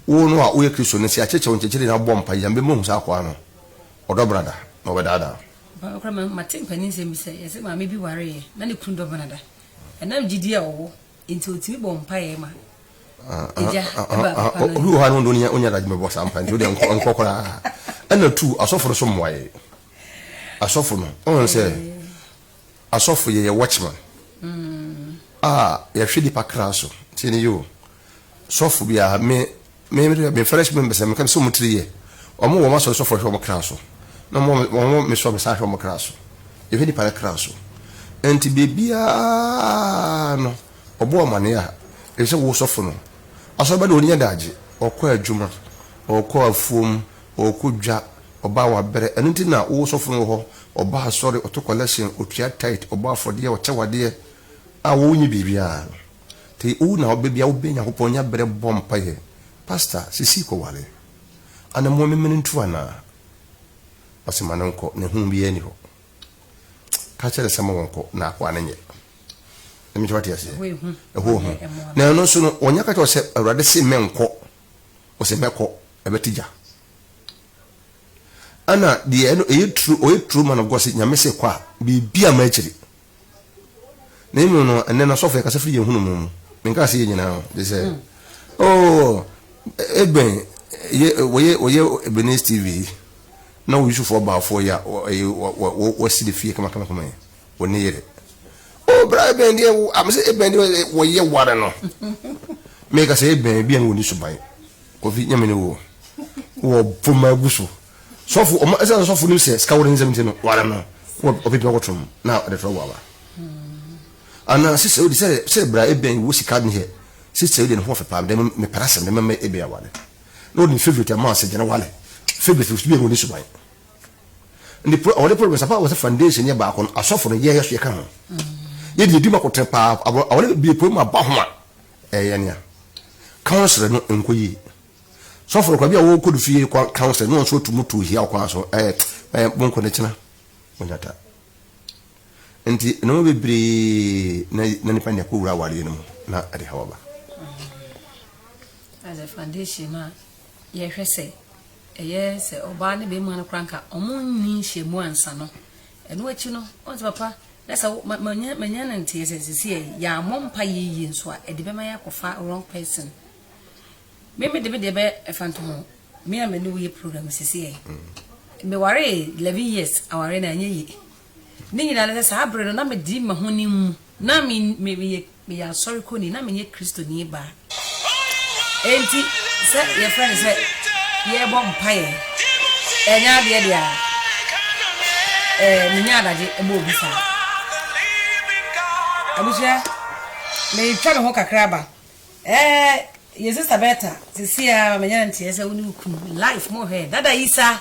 wo no a woyɛ kristoni sɛ akyɛkyɛ wo nkyɛkyɛre na wobɔ mpa yɛ mbɛma hu sɛ akɔa no ɔdɔ benada na ɔbɛdaadaa Ampa ara koraa, mate mpaninsɛm bi sɛ wɔse maame bi wareeɛ na ne kunu dɔm no da. Ɛnam gyidie a ɔwɔ nti ɔtumi bɔɔ mpaeɛ ma agya baa papa no nkyɛn. Obi wɔ hɔ a na ɔno deɛ ɔnyɛ adagyeɛ mmɛbɔ saa mpaeɛ nti wodeɛ nkɔ koraa. Ɛna two, asɔfo no nso mmoaeɛ. Asɔfo no, woahu sɛ asɔfo yɛyɛ watchman a yɛhwɛ nnipa kra so. Tie nie o, sɔfo biara, me, Me me me fɛrɛs me mbɛsɛ meka no sɛ ɔmo tiri yɛ ɔmo wɔ ɔmo asɔre sɔfoɔ hwɛ ɔmo kra so na ɔmo wɔ ɔmo wɔ me so a me san hwɛ ɔmo kra so yɛhwɛ nipa ne kra so ɛnti biribiaa no ɔbɔ amaneɛ a ɛfiri sɛ wo sɔfo no asɔre ba deɛ ɔni adagye ɔkɔ adwuma ɔkɔ afuom ɔkɔ dwa ɔba wabrɛ ɛno nti na wo sɔfo no wɔ hɔ ɔba asɔre ɔto collection ɔtua tithe ɔbɔ afɔdeɛ ɔkyɛ wadeɛ a wo nyi biribiaa no. Te owu na ɔbɛ bia wobɛ Nyankopɔn nya berɛ bɔ mpaeɛ Pastor sisi kɔ ware Anamoa memene ntu anaa Ɔse ma no nkɔ na ehu biaa ni hɔ Ka kyɛrɛ sɛ ma wɔ nkɔ na akoa no nyɛ Nyame kyɛ wate aseɛ Ɛhɔ ehu Na ɛno nso no ɔnya ka kyɛ wɔ sɛ Awurade se mɛ nkɔ Ɔse mɛ kɔ ɛbɛ te gya Ana deɛ ɛno ɛyɛ tru ɔyɛ tru ma no gɔ se Nyame se kɔ a biribi ama akyiri. Na emu no, ɛnnɛ no, sɔfo yɛkasa firi yɛn hunu mu mu. Menkaa sɛ yɛn nyinaa o, gye sɛ, oh, Eben, yɛ, wɔyɛ, wɔyɛ Ebenezer TV yi, na wo Yusufo ɔbaafoɔ yi a, ɔyɛ, wɔ, wɔ, wɔ, wɔsi ne fie kamakamakama yi, wɔ ne yere. Oh, bra Eben deɛ, wo, a, mesɛ Eben deɛ, wɔyɛ ware no. Meka sɛ, Eben, bia no wɔnni suban. Kofi, nyɛ me ne wo o. Wɔ poma agu so. Sɔfo, ɔma ɛsɛ sɛ sɔfo nim sɛ sika wɔ ne nsam nti no, ware no na ɔpepem akɔto mu na ɔde frɛ wɔaba. Anaa sista yi de sɛ sɛ bra ebia yi wɔ sika ne hɛ, sista yi de ne ho ɔfɛ paa, mede me mepɛ asɛm de mɛma ebia aware. Na ɔde ne favorite ama sɛ gyana wale. Favorite no so bia ɔni suban. Ndi pro awale problem sapa wɔ sɛ foundation yɛ baako no asɔfo no yɛ yɛ so yɛ ka ho. Yɛ de yɛ di ma kɔtene paa awale bie pue ma ba ho a ɛyɛ nea counselor no nkɔ yie. Sɔfo no kora bi a wɔkɔ ne fie kɔ kan sɛ no nso otu mu tu hia ɔkwan so ɛɛ ɛɛ bonko ne kyena onyata. Nti na mo bebree na na nipa ne kɔ wura awari no mu na ɛde ha waba. As a foundation a yɛhwɛ sɛ ɛyɛ sɛ ɔbaa ne bɛrima no kora nka ɔmo nni nhyɛmu ansa no ɛno akyi no ɔn sɛ papa na sɛ manya no nteɛ sɛ sisi yɛ yɛ amɔ mpa yɛ yie nso a ɛde bɛma yɛ akɔfa wrong person Me me de me deɛ bɛ ɛfa nto ho me a me ne wo yɛ program sisi ɛ me ware eleven years aware na ɛnyɛ yie ne nyinaa ne sɛ saa bere no na me di ma ho ne mu na me me me yɛ me yɛ asɔre kɔni na me yɛ kristo ni baa enti sɛ yɛ fɛ ne sɛ yɛ bɔ mpa yɛ ɛnyɛ adeɛ deɛ a ɛɛ me nyɛ adagye ɛbɔ obi saa abusua me twa me ho kakra ba Ɛɛ yɛ sister Berta sisi a ma menya no nteɛ sɛ wo ne wo kunu life mo hwɛ dada yi sa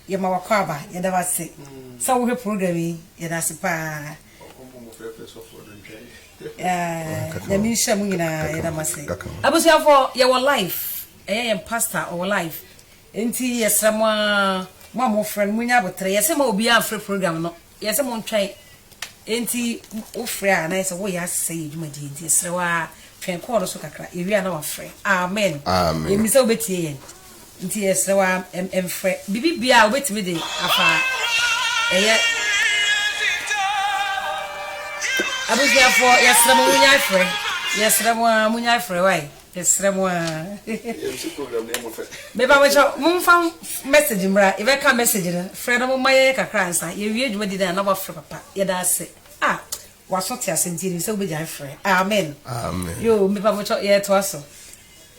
yɛ ma wakɔ aba yɛ da wase sɛ wo hwɛ program yi yɛ da se paa ɛɛ nyame nhyɛ mo nyinaa yɛ da mase abusuafo yɛ wɔ life ɛyɛ yɛn pastor ɔwɔ life nti yɛ srɛ mo a mo a mo frɛ no mo nya abotere yɛ se ma obi a mfre program no Yɛ sɛ montwɛn. Enti wofrɛ a na ayɛ sɛ woreyɛ asesa yɛn dwumadie nti yɛsrɛ wo ara twɛn kɔɔl no so kakra, yɛwie a na wafrɛ. Amen. Yɛnim sɛ wobɛtie yɛn nti yɛsrɛ wo ara mfrɛ. Biribi biara a wobɛtumi de afa a ɛyɛ Abusuafoɔ yɛsrɛ mo monnyae frɛ. Yɛsrɛ mo ara monnyae frɛ. Wai? Yɛsrɛ mo aa. Mepa mo kyɛw, momfa message mmra. Yɛbɛka message no, frɛ no, momma yɛnyɛ kakra ansa. Yɛwie dwumadi no a na moafrɛ papa. Yɛda ase. Ah! W'aso te ase nti, yɛnim sɛ wobɛgyae frɛ. Amen. Yoo, mepa mo kyɛw, yɛtoa so.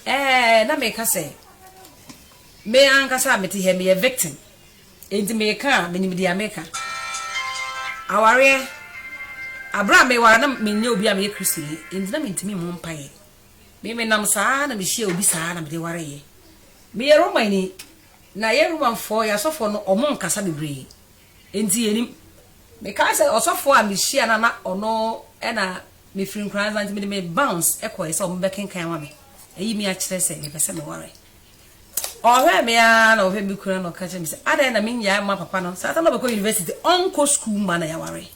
Ɛɛ, na meka sɛ, me ankasa a mete ha, meyɛ victim. Enti meka a, menim deɛ meka. Awareɛ, berɛ a meware no, menyɛ obi a meyɛ Kristoni, enti na mentumi mmɔ mpaeɛ. Me menam saa ara na mehyiaa obi saa ara na mede wareeɛ. Meyɛ Romani, na yɛn Romanfoɔ, yɛn asɔfoɔ no, wɔnkasa bebree, enti yɛnnim. Mekae sɛ ɔsɔfoɔ a mehyiaa no a na ɔno na mefiri Nkoranza nti mede me bounce kɔeɛ sɛ wɔbɛkenkan ama me, ayi me akyerɛ sɛ mepɛ sɛ meware. Ɔhwɛɛ me ara na ɔhwɛ me kunu ara na ɔka kyerɛɛ me sɛ, Adɛn na mennyae mma papa no saa da no a ɔbɛkɔ university, ɔnkɔ sukuu mma na yɛaware?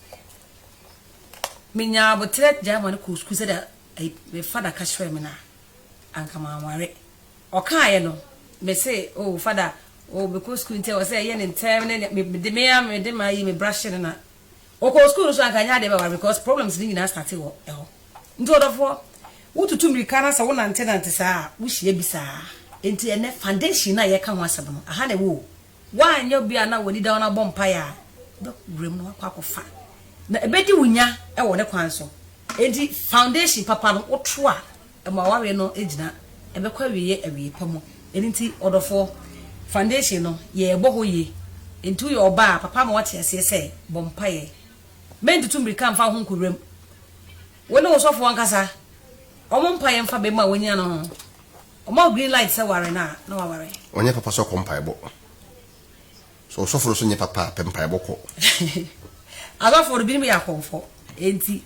Menyaa aboterɛ gyae ma no kɔɔ sukuu sɛdeɛ Ei, me fada ka kyerɛɛ me no a, anka manware. Ɔkaeɛ no, mese, Oh, fada, oh, mekɔ sukuu nti ɛwɔ sɛ ɛyɛ no ntɛm ne nea, mede me ara mede m'ayi, me bra hye no na. Ɔkɔɔ sukuu no nso a, anka ɛnyɛ adeɛ bɛware me because problems no nyinaa startee wɔ ɛhɔ. Nti ɔdɔfoɔ, wotutu mmirika na sɛ wonantenante saa a, wohyia bi saa ara. Enti ɛnnɛ, foundation no a yɛreka ho asɛm no, aha na ɛwɔ o. Woanyɛ obi a na w'ani da wo na wobɔ mpaeɛ a, wobɛkɔ wuram na woakɔ akɔfa, na ɛbɛdi wo nya wɔ ne kwan so. Enti foundation papa no woto a, ɛma w'awareɛ no gyina, ɛbɛkɔ awieeɛ awieeɛ pa mu. Ɛno nti ɔdɔfoɔ, foundation no yɛrebɔ hɔ yie. Enti woyɛ ɔbaa a, papa ama woate aseɛ sɛ bɔ mpaeɛ. Mɛntutu mmirika mfa wo ho nkɔ wuram. Wo ne wo sɔfoɔ ankasa, wɔn mpaeɛ mfa bɛma a woanya no ho. Ɔma wo green light sɛ ware no a, na waware. Ɔnyɛ papa sɛ ɔkɔ mpaebɔ. Sɛ ɔsɔfo no nso nyɛ papa a, pɛ mpaebɔ kɔ. Asɔfo no, binom yɛ akɔmfɔ. Enti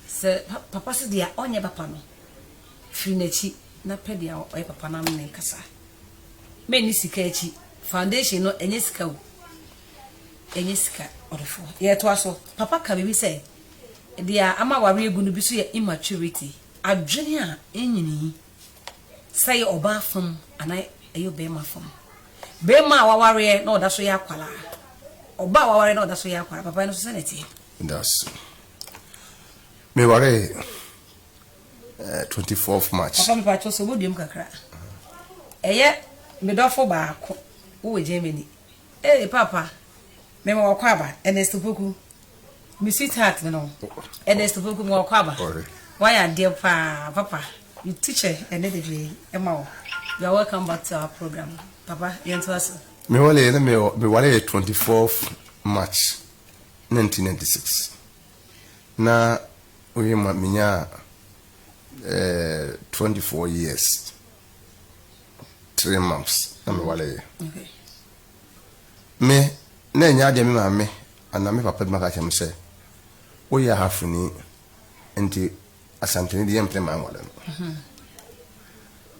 sɛ papa se deɛ ɔnyɛ papa no, firi n'akyi na pɛ deɛ ɔyɛ papa no ano na ɛkasa. Menni sika akyi. Foundation no, ɛnyɛ sika o. Ɛnyɛ sika. Ɔdɔfoɔ, yɛtoa so. Papa ka biribi sɛ, Deɛ ama awareɛ agu no bi nso yɛ immaturity. Adwene a enyini yi, sɛ ɛyɛ ɔbaa fam anaa ɛyɛ ɔbarima fam, barima a wawareɛ na ɔda so yɛ akwadaa, ɔbaa a wawareɛ na ɔda so yɛ akwadaa, papae no nso sɛn na ɛteɛ? Dase. Mewaree eh, 24th March. Papa mepa kyɛw sɛ wobɛduam kakra. Ɛyɛ me dɔfo baako wowɔ Germany. Ee papa, mema wakɔ aba, Ernest Opoku. Me sweetheart no Ernest Opoku mewɔ Kwaba wayɛ adeɛ paa papa me teacher ɛnɛ bebree ɛma wo you are welcome back to our program papa yɛntoa so. Me wale yɛ na me me wale yɛ 24th March 1996 na oye ma me nya eh, 24 years three months na me wale yɛ. Okay. Me, na ɛnyɛ adeɛ a me maame anaa me papa bɛma aka akyerɛ me sɛ, Woyɛ Ahafoni, enti Asanteni deɛ yɛmpene mmaa nware no.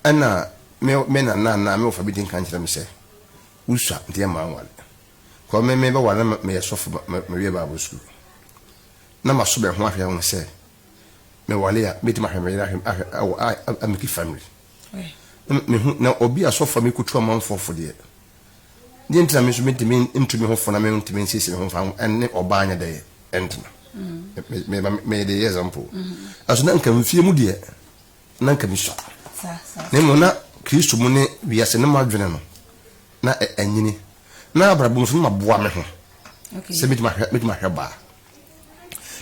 Ɛnna me me nana anaa me wɔfa bi di nkan kyerɛ me sɛ, Wosua, enti yɛ mmaa nware. Kɔ me mebɛware na meyɛ sɔfo ma mewie Bible sukuu. Na maso bɛn ho ahwɛ ahu sɛ, me wale a mɛtumi ahwɛ me yere ahwɛ ahwɛ ɛwɔ a amiki family na me hu na obi asɔfo a mekutu amanfoɔ fo deɛ deɛ ntina me nso mɛtumi ntu me ho fo na me ntumi nsiesie me ho fa ɛne ɔbaa nyɛ dɛyɛ ɛntena me me me me de yɛ example ɛso na nka mfie mu deɛ na nka me sua na mmom na kristo mu ne wiase no mu adwene no na ɛnyini na abrabɔ mu nso na maboa me ho sɛ mɛtumi ahwɛ mɛtumi ahwɛ baa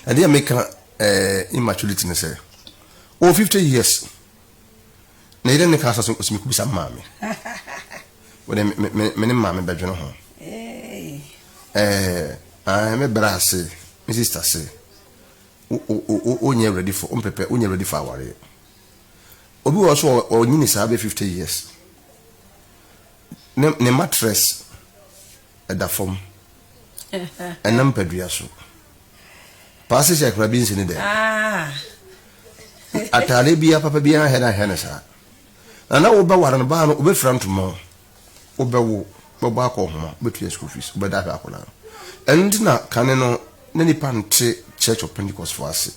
Na deɛ meka ɛɛ immaturity ne sɛ ɔwɔ fifty years na yɛdɛ ne kaa sɛ ɔsɛ ɔsɛ mekubisa maame wɔde me me me ne maame bɛdwene ho ɛɛ ɛɛ me bra ase me sista se wonyɛ ready for ɔmpɛpɛ wonyɛ ready for awareɛ obi wɔ so ɔnyini saa bɛ fifty years ne ne mattress. ɛda fam ɛna mpadua so paa sisi akora bi nsini dɛ ah. ataade bia papa bia ahɛ na ahɛ ne saa na na wobɛware no baa no wobɛfira ntoma o wobɛwo bɛbɔ akɔ ɔhoma wobɛtua school fees wobɛda ahwɛ akɔla no ɛno nti na kane no na nipa nte church of pentecost fo ase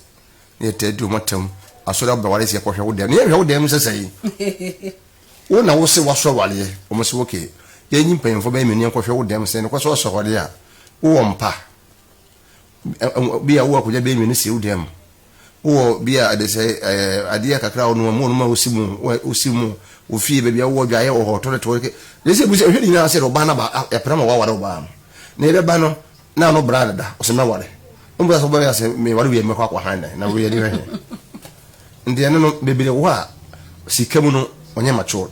na yɛtaa di ɔmatam asɔre abɛware sɛ yɛkɔhwɛ wo dɛm na yɛhwɛ wo dɛm sɛsɛe Wo na wose wasɔ awareɛ, wɔn se ok, yɛn nyi mpanyinfoɔ bɛyɛ mmienu nkɔhwɛ wo dɛm sɛ nokwasɛ ɔsɔ awareɛ a, wowɔ mpa? Bia wowɔ akwadwa bɛyɛ mmienu si wo dɛm, wowɔ bia adesɛe ɛɛ adeɛ kakra a wonom a, monom a wosi mu, wosi mu, wo fie baabi a wowɔ adwaeɛ wɔ hɔ, toilet wɔ hɔ, yɛsɛ yɛbisa, hwɛ ne nyinaa sɛ ɔbaa no aba, yɛpere ama waware ɔbaa no, na yɛbɛba no, Na no bra deda ɔsɛ mɛware ɔmu bra sɛ ɔbɛyɛ sɛ meware wie mɛkɔ akɔ han dɛn na wei yɛde hwɛ he nti ɛno no bebree wɔ hɔ a sika mu no ɔnyɛ matured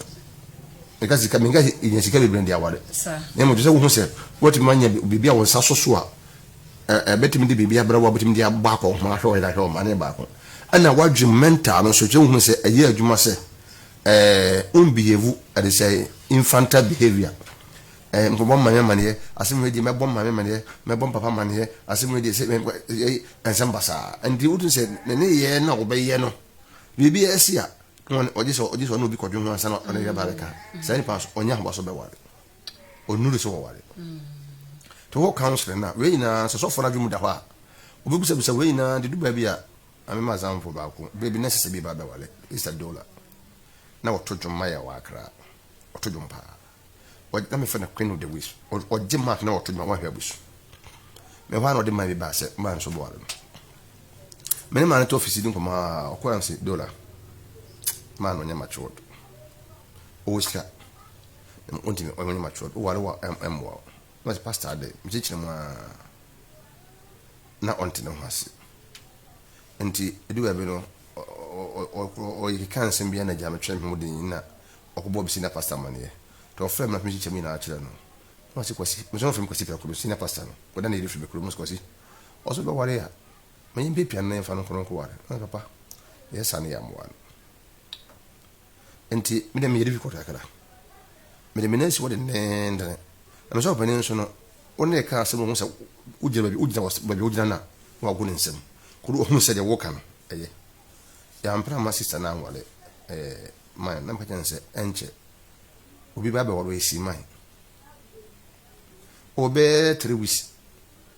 nka sika menka sɛ ɛnya sika bebree de aware na mmom sɛ wohu sɛ woatumi anya biribi a wo nsa so so a ɛbɛtumi de biribi abrɛ wo a wobɛtumi de abɔ akɔnhoma ahwɛ ɔyere ahwɛ ɔma ne baako ɛna woadwene mental no nso kyɛ wohunu sɛ ɛyɛ adwuma sɛ ɛɛ wonbehave ɛde sɛ infantile behavior Eh, nkɔbɔ maame amaneɛ, asɛm wei deɛ mɛbɔ maame amaneɛ, mɛbɔ papa amaneɛ, asɛm wei deɛ sɛ ɛyɛ nsɛm basaa. Nti wotu sɛ ne ne yɛ na wɔbɛyɛ no. Biribi ɛsi a, ɔgye sɛ ɔgye sɛ ɔne obi kɔdwe ho ansa na ɔne yɛ ba bɛka. Saa nipa nso ɔnyɛ ahobaso bɛware. Ɔnuru sɛ wɔware. To hɔ counseling na wei nyinaa sɛ sɔfo no adwene mu da hɔ a, obɛbisabisa wei nyinaa de du baabi a amema azamfo baako baabi na ɛsɛ sɛ bi ba bɛware Easter Dola na wɔto dwom ma yɛ wɔ Accra. ɔto dwom paa. Ɔgye na mefrɛ no Queen of the Ways. Ɔgye mark na ɔto dwom wahwɛ abusu. Me hɔ a na ɔde man bi baa sɛ man nso boa no. Me ne man no to ofisi di nkɔmɔ a ɔkɔ yam sɛ dola man no nyɛ matured. Ɔwɔ sika. Ɔntumi ɔnyɛ ɔnyɛ matured. Ɔware wa ɛmmoa o. Na ɔsɛ pastor adɛ mekyerɛkyerɛ mu a na ɔnte ne ho ase. Nti edu baabi no ɔkeka nsɛm bi a na Gyame kyerɛ me ho den na ɔkɔbɔ me senior pastor amanneɛ. Nti ɔfrɛɛ me na me nkyekyɛ mu nyinaa kyerɛ no. Na ɔse Kwasi, me nso ɔfrɛ me Kwasi prɛko, me senior pastor no, ɔda na yɛde firi me kurom, ɔse Kwasi, ɔse wobɛware a, ma yɛmpiapia no na yɛmfa no nkɔ no nkɔware. Na me papa, yɛsane yɛ amoa no. Enti me deɛ meyɛ difficult kakra. Mede me nan si hɔ denneennen. Na mesɛ ɔpanin nso no, wo ne reka asɛm no ɔhu sɛ wogyina baabi wogyina baabi a wogyina no a na wago ne nsam. Koro ɔhunu sɛ deɛ woka no ɛyɛ. Yɛampere amma sista no anware eh, man. Na meka kyerɛ no sɛ ɛnkyɛ obi bɛba abɛware ɔyɛ si man. Ɔwɔ bɛyɛ three weeks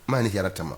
man ne hiara tama.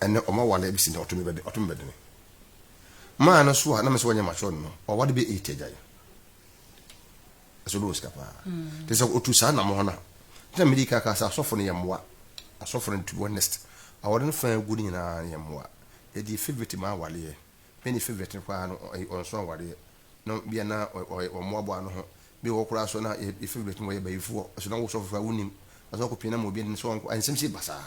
Ɛnnɛ wɔn aware besi nnɛ ɔtome bɛde ɔtome bɛdene. Maa no so a na mesɛ wɔnyɛ matured no wawade bɛ eight agyae. Ɛsɛ ɔdɔ wɔ sika paa. Te sɛ otu saa nam hɔ no a nti na mede ka ka sɛ asɔfo no yɛ mmoa. Asɔfo no to be honest aware no fa gu no nyinaa yɛ mmoa. Yɛde yɛ favourite ma awareɛ. Mene favourite no paa no ɔnso awareɛ. na bia na ɔyɛ ɔmmoaboa no ho bi wɔ hɔ koraa so na yɛ favourite bɛtumi wɔyɛ bayifoɔ ɔsɛ na wo sɔfo koraa wonim na sɛ ɔkɔpie na ma obi anim sɛ ɔnkɔ nsɛm si ba saa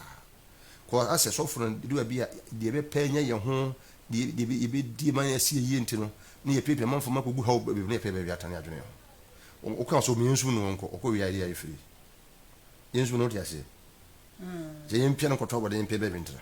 kɔ asɛ sɔfo no de baabi a deɛ bɛpɛ nyɛ yɛn ho deɛ deɛ yɛbɛdie ma yɛasi yie nti no ne yɛpiapia manfo ma kɔgu haw baabi ne yɛpɛ baabi atane adwene ho woka sɛ ɔmeyɛ nsum no ɔnkɔ ɔkɔ wie adeɛ a yɛfiri yɛnsum no wote aseɛ sɛ yɛmpia no nkɔtɔ abɔde yɛmpia baabi ntena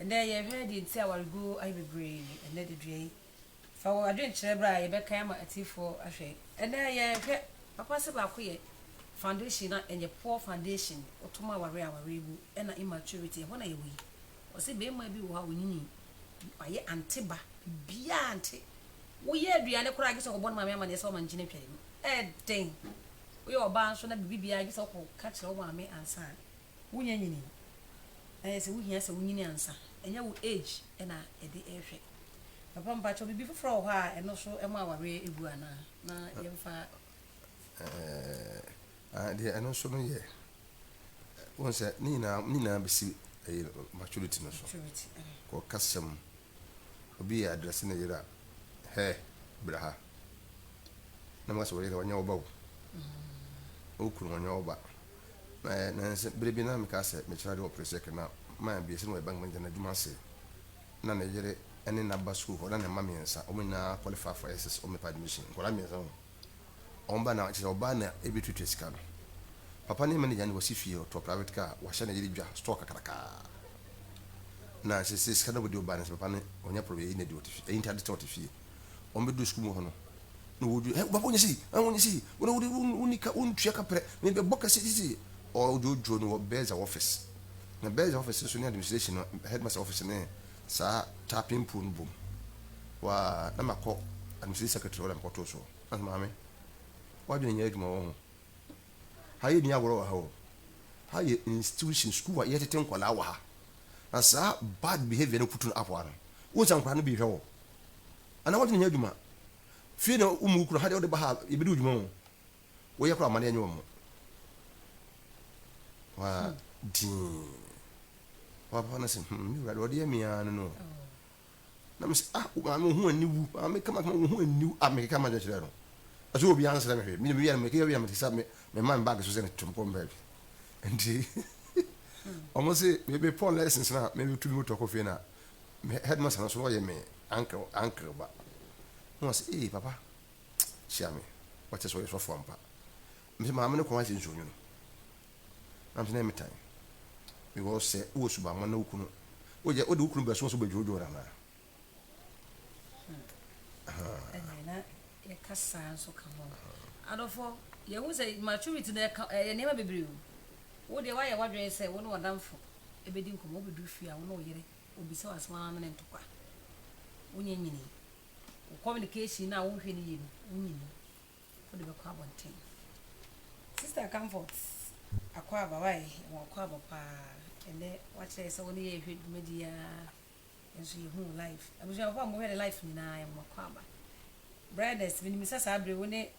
Ɛnnɛ, yɛhwɛ deɛ nti a awareguo ayɛ bebree ɛnnɛ da dua yi. Fa wo adwene kyerɛ berɛ a yɛbɛkan ama atiefoɔ ahwɛ. Ɛnnɛ, yɛhwɛ papa sɛ baako yɛ foundation na ɛnyɛ poor foundation. Wotom awareɛ a, awareɛ bu, ɛna immaturity, ɛhɔ na yɛwɔ yi. Wɔse barima bi wɔ hɔ a ɔnyinii, wayɛ ante ba, biribiara ante. Woyɛ aduane koraa gye sɛ ɔkɔbɔ ne maame amanneɛ sɛ ɔma nkyene atwa ne mu. Ɛyɛ den. Woyɛ ɔbaa nso na biribi biara gye sɛ wokɔka kyerɛ wo maame ansa. Wo nya nyini na yɛ sɛ wo hia sɛ wo nyini ansa ɛnyɛ wo age ɛna yɛde rehwɛ papa mpakyɛw bibi foforɔ wɔ hɔ a ɛno so ɛma awareɛ ɛgu anaa na yɛmfa ɛɛɛ deɛ ɛno nso no yɛ wɔn sɛ ne nyinaa ne nyinaa bɛsi ɛyɛ maturity no so maturity kɔ kasa mu obi yɛ adrɛse ne yere a hɛ bra ha na mo asɛ wɔyere wɔnyɛ wo ba o mm. wo kunu wɔnyɛ wo ba Na ɛyɛ nnansa bere bi na meka sɛ mekyerɛ ade wɔ Presec na mma abiɛsa no wɔ bank manager no adwuma ase. Ná ne yere ne nã ba sukuu hɔ na ne mma mmiɛnsa, wɔn nyinaa qualify for SS, wɔn mepɛ admission. Nkwadaa mmiɛnsa o. Wɔn ba na kyerɛ sɛ ɔbaa na ɛbɛtuatua sika no. Papa no yɛ manager na wasi fie, ɔtɔɔ private car, wahyɛ ne yere dwa, store kakrakaa. Na seesei sika no a wɔde di ɔbaa no nso papa no ɔnyɛ problem, ɛyi na ɛdi ɔte fie, ɛyi nti ade kyɛ ɔte fie. wɔn bɛ du sukuu mu hɔ no na wɔdwi ɛ bɔbɔ nyɛ si ɛ wɔn nyɛ si wɔn wɔn wɔn wɔn nika wɔn tua kaprɛ mɛ bɛ bɔ kɛse sisi ɔdwodwo no wɔ bɛɛza wɔfɛs na bɛɛza wɔfɛs nso ne administration no headmaster wɔfɛs ne saa tapping pool no bom waa na ma kɔ administration secretary wɔn na ma kɔ to so na so maame wɔadwene nyɛ adwuma wɔ ho ha yɛ ni agorɔ wɔ ha o ha yɛ institution sukuu a yɛtete nkwadaa wɔ ha na saa bad behavior no kutu no apoa no wɔn nsa nkwadaa no bi hwɛ wɔ. Anaa wɔntumi nyɛ adwuma. Fie na wo mu kura ha deɛ wode ba ha yɛbɛdi wo dwuma ho. Woyɛ kora amadeɛ nyɛ wɔn. Waa dii. Waa papa no se hmm me wura ɔdeɛ me ara no no. Na me se ah maame wo ho aniwu maame kama kama wo ho aniwu ah me keka ma dwen kyerɛ no. Ɛsɛ obi ansrɛ me hwɛ me me yɛ me keka yɛ me te sɛ me me man bag so sɛ ne tom kɔm bag. Nti wɔn se me me pɔn lessons na me tu me motor kɔ fie na me headmaster no so na ɔyɛ me uncle uncle ba na ɔsɛ ee papa hyia me ɔkyɛ sɛ ɔyɛ sɔfo ampa mesɛ maame no kɔn ayɛ sɛ nsuo nwono na mesɛ na ɛme tan because sɛ wowɔ subammɔ na wokunu woyɛ wode wokunu bɛso so bɛdwoodwoo no anaa yɛka saa nso ka ho adɔfo yɛhu sɛ maturity no ɛyɛ nneɛma bebree o wodeɛ woayɛ woadwene sɛ wo ne ɔdamfo ɛbɛdi nkɔmmɔ wobɛduru fie a wo ne wo yere Obisa wo asɛm amene ntokwa. Wonyɛ nyini. Wo communication no a wohwɛ no yie no, wonyini. Wode bɛkɔ abɔnten. Sister Comfort Akwaaba, wai, yɛwɔ Akwaaba paa. Ɛnnɛ woakyerɛ yɛ sɛ wo ne yɛ rehwɛ dwumadie yi ara nso yɛhu wo live. Abusuafoɔ a mohwɛ ne live nyinaa, yɛwɔ Akwaaba. Brightness, menim sɛ saa berɛ yi wo ne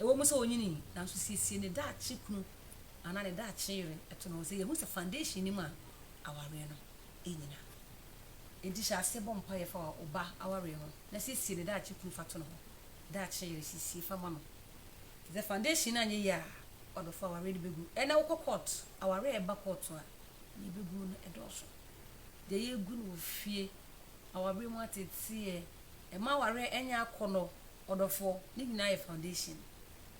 Ɛwɔ mu sɛ onyinii, nanso siesie ne daakye kunu anaa ne daakye yere to ne ho. Sɛ yehu sɛ foundation nnim a, awareɛ no nnyina. Enti hyɛ aseɛ bɔ mpaeɛ fa wo ba awareɛ ho na siesie ne daakye kunu fa to ne ho. Ne daakye yere, siesie fa ma no. Te sɛ foundation no anyɛ yie a, ɔdɔfoɔ awareɛ no bɛgu. Ɛnnɛ wokɔ court, awareɛ a ɛba court a, deɛ ɛbɛguo no dɔɔso. Deɛ yɛgu no wɔ fie Awareɛ mu ateteɛ, ɛma awareɛ nyɛ akɔnnɔ, ɔdɔfoɔ, ne nyinaa yɛ foundation.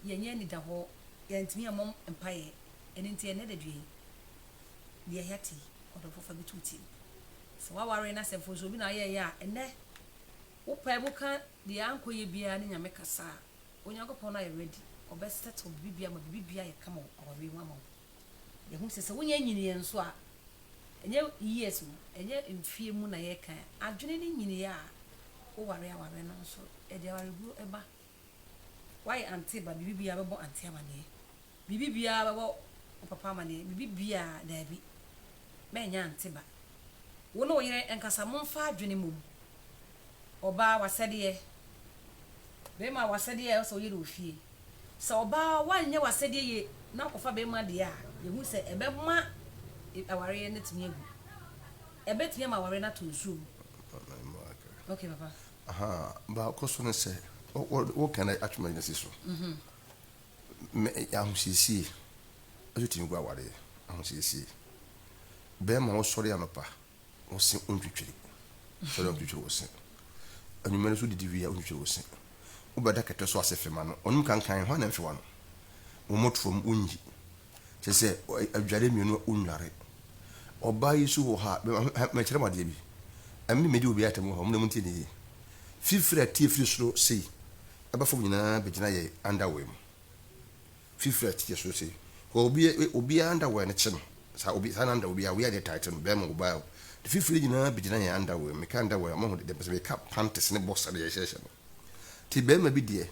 Yɛnyɛ anidahɔ, yɛntumi mmɔ mpaeɛ, ɛno nti ɛnnɛ da dua yi, deɛ ɛyɛ ate yi, ɔdɔfoɔ fa bi to wo tirim. Sɛ w'awareɛ no asɛ mfomsoɔ bi na ayɛeɛ a, ɛnnɛ wo pae mu ka deɛ ankɔyɛ biara ne Nyame kasa a, Onyankopɔn no ayɛ ready, ɔbɛ settle biribiara ma biribiara ayɛ kama wɔ awareɛ mu ama wo. Yɛhu sɛ sɛ wonya nyiniiɛ nso a, ɛnyɛ years mu, ɛnyɛ mfeɛ mu na yɛkan. Adwene ne nyiniiɛ a woware awareɛ no nso, ɛde awareguo ba. Woayɛ ante ba, biribi biara bɛbɔ ante amaneɛ. Biribi biara bɛbɔ wo papa amaneɛ, biribi biara, daabi, mɛnyɛ ante ba. Wo ne wo yere nkasa, momfa adwene mmɔ mu. ɔbaa w'asɛdeɛ, barima w'asɛdeɛ a ɛwɔ sɛ ɔyɛ no wɔ fie. Sɛ ɔbaa wanyɛ w'asɛdeɛ yie na wakɔfa barima deɛ a, yɛhu sɛ ɛbɛma awareɛ no atumi agu. Ɛbɛtumi ama awareɛ no ato nsuo mu. Okay, papa. Aha, baako so ne sɛ, woka no atwe m'adwene si so. Ahosiesie nso tumi gu awareɛ. Ahosiesie. Barima wosɔre anɔpa. wo se wontwitwiri. Sɔre a wontwitwiri wo se. Anwummere nso didi wie a wontwitwiri wo se. Wobɛda kɛtɛ so ase fema no. Ɔnom kankan, hwan na mfewa no? Wo mmɔtoɔ mu, wonnyi. Kyerɛ sɛ, adware mmienu a wonnware. Ɔbaa yi nso wɔ ha a, mekyerɛ mo adeɛ bi. Ɛme na medi obiara atam wɔ ha, mo deɛ montie no yie. Fifiri a ɛteɛ firi soro sei ba fam nyinaa bɛgyina yɛn underwear mu. Fifrɛ te yɛso sei kɔ obi obiaa underwear no kye no saa obi saa na underwear obiaa wear deɛ tight no bɛɛma obaa o de fifrɛ nyinaa bɛgyina yɛn underwear meka underwear ɔmo ho deɛ mpɛsɛ meka panties ne boxer deɛ yɛhyɛhyɛ no te bɛɛma bi deɛ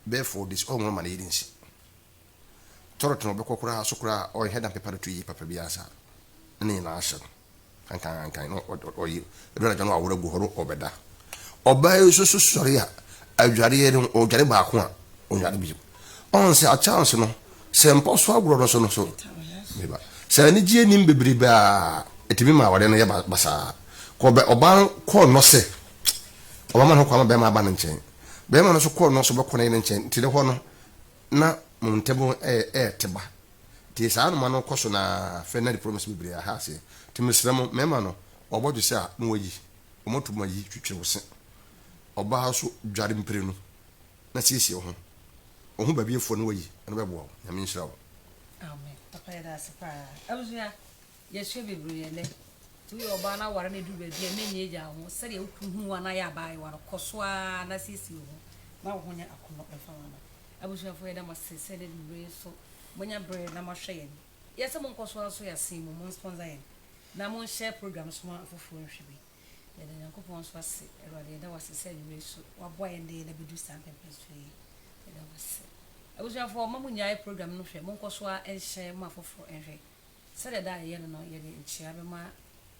bɛɛ four days ɔnwo no ma ne yere nsi toilet no ɔbɛkɔ koraa so koraa ɔnhwɛ da mpepa no to yie papa biaa saa na ne nyinaa hyɛ no. Anka anka no ɔye ɛdɔ anadwo no awore gu hɔ no ɔbɛda. Ɔbaa yi nso so sɔre a adwareɛ no ɔdware baako a ɔnyare bio. Ɔn sɛ akyɛnse no sɛ mpɔ so agorɔ no so no so meba. Sɛ anigyeɛ nim bebrebe a ɛtumi ma aware no yɛ basaa. Kɔ bɛ ɔbaa no kɔɔ nɔ sɛ ɔbɛma ne ho kwan ma bɛrima aba ne nkyɛn. Bɛrima no nso kɔɔ nɔ sɛ ɔbɛkɔ ne yere nkyɛn nti ne hɔ no na mo ntam ɛɛte ba. Tse saa anoma no kɔ so no ara fɛ na repro no se beberee aha ase. Tse meserɛ mo, mɛma no ɔbɔdwe se a na ɔayi, ɔmɔto ma yi twetwere wo se. Ɔbaa wo so dware mprenu na siesie wo ho. Ɔho baabi afuɔ na wayi, ɛno bɛboa wo. Nyame nhyira wo. Amen papa yɛda ase paa abusua. Yɛhwɛ bebree nnɛ, nti woyɛ ɔbaa na aware no aduru baabi a ɛma ani agyaw ho, sɛdeɛ wo kunu hu wo anaa yɛ abaayewa no, kɔ so ara na siesie wo ho ma wo ho nyɛ akɔnnɔ mfa wo mma. Abusuafo, yɛda mo ase sɛ nnɛ anwummerɛ yi nso moanya berɛ na moahwɛ yɛn. Yɛɛ sɛ monkɔ so ara nso yɛn asen mu, monsponsor yɛn na monhyɛ program no so ma afoforɔ nhwɛ bi. Yɛda Nyankopɔn nso ase. Awurade, yɛda wo ase sɛ anwummerɛ yi nso woaboa yɛn de yɛn abɛduru saa mpɛmpɛnsoɔ yi. Yɛda wo ase. Abusuafoɔ, mma monnyae program no hwɛ, monkɔ so ara nhyɛ ma afoforɔ nhwɛ. Sɛdeɛ daa yɛyɛ no no, yɛde nkyea bɛma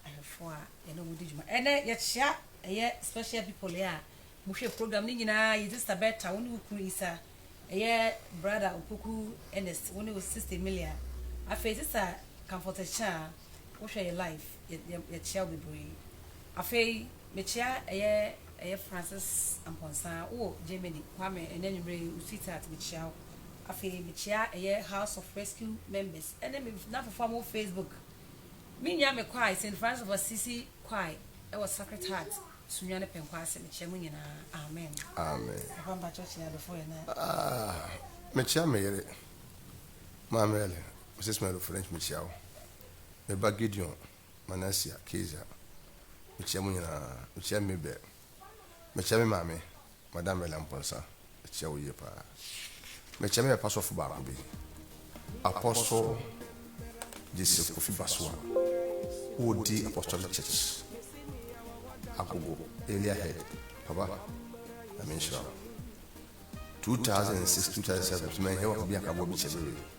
ahwɛfoɔ a yɛne wɔn di dwuma. Ɛnnɛ, yɛkyea ɛyɛ special people yi a wɔhwɛ program no nyinaa, yɛn sista Bertha, wo ne wo kunu Isa, ɛyɛ brother Opoku Ernest, wo ne wo sista Emilia, afei sista Comfort Akyea, wohwɛ yɛn live, yɛ, yɛkyea wo bebree. Afei, mekyea ɛyɛ, ɛyɛ Francis Amponsah, wowɔ Germany, Kwame, ɛnnɛ anwummerɛ yi, wo sweetheart, mekyea wo. Afei mekyea ɛyɛ House of Rescue members ne me nafofo a wɔwɔ Facebook. Me nua me kwae, Saint Francis of Assisi kwae wɔ Sacred Heart, Sunyani Pɛnkwa ase. Mekyea mo nyinaa. Amen. Amen. Papa mpakyɛ kyea adɔfo yɛ na. Ah, mekyea me yere, Maame Ellen, Mrs. Melo French, mekyea wo. Me ba Gideon, Manasseh, Kezia, mekyea mo nyinaa. Mekyea Mabel. Mekyea me maame, Madam Ella Mponsa, mekyia wo yie paa. Mekyia me papa sɔfo baako bi, Apostle Gyesi Kofi Basua, ɔdi Apostolic Church, Agogo Area Head. Papa, Nyame nhyira wo. 2006, 2007 nso manhia wo aka bi anka boa bi kyɛ me wei.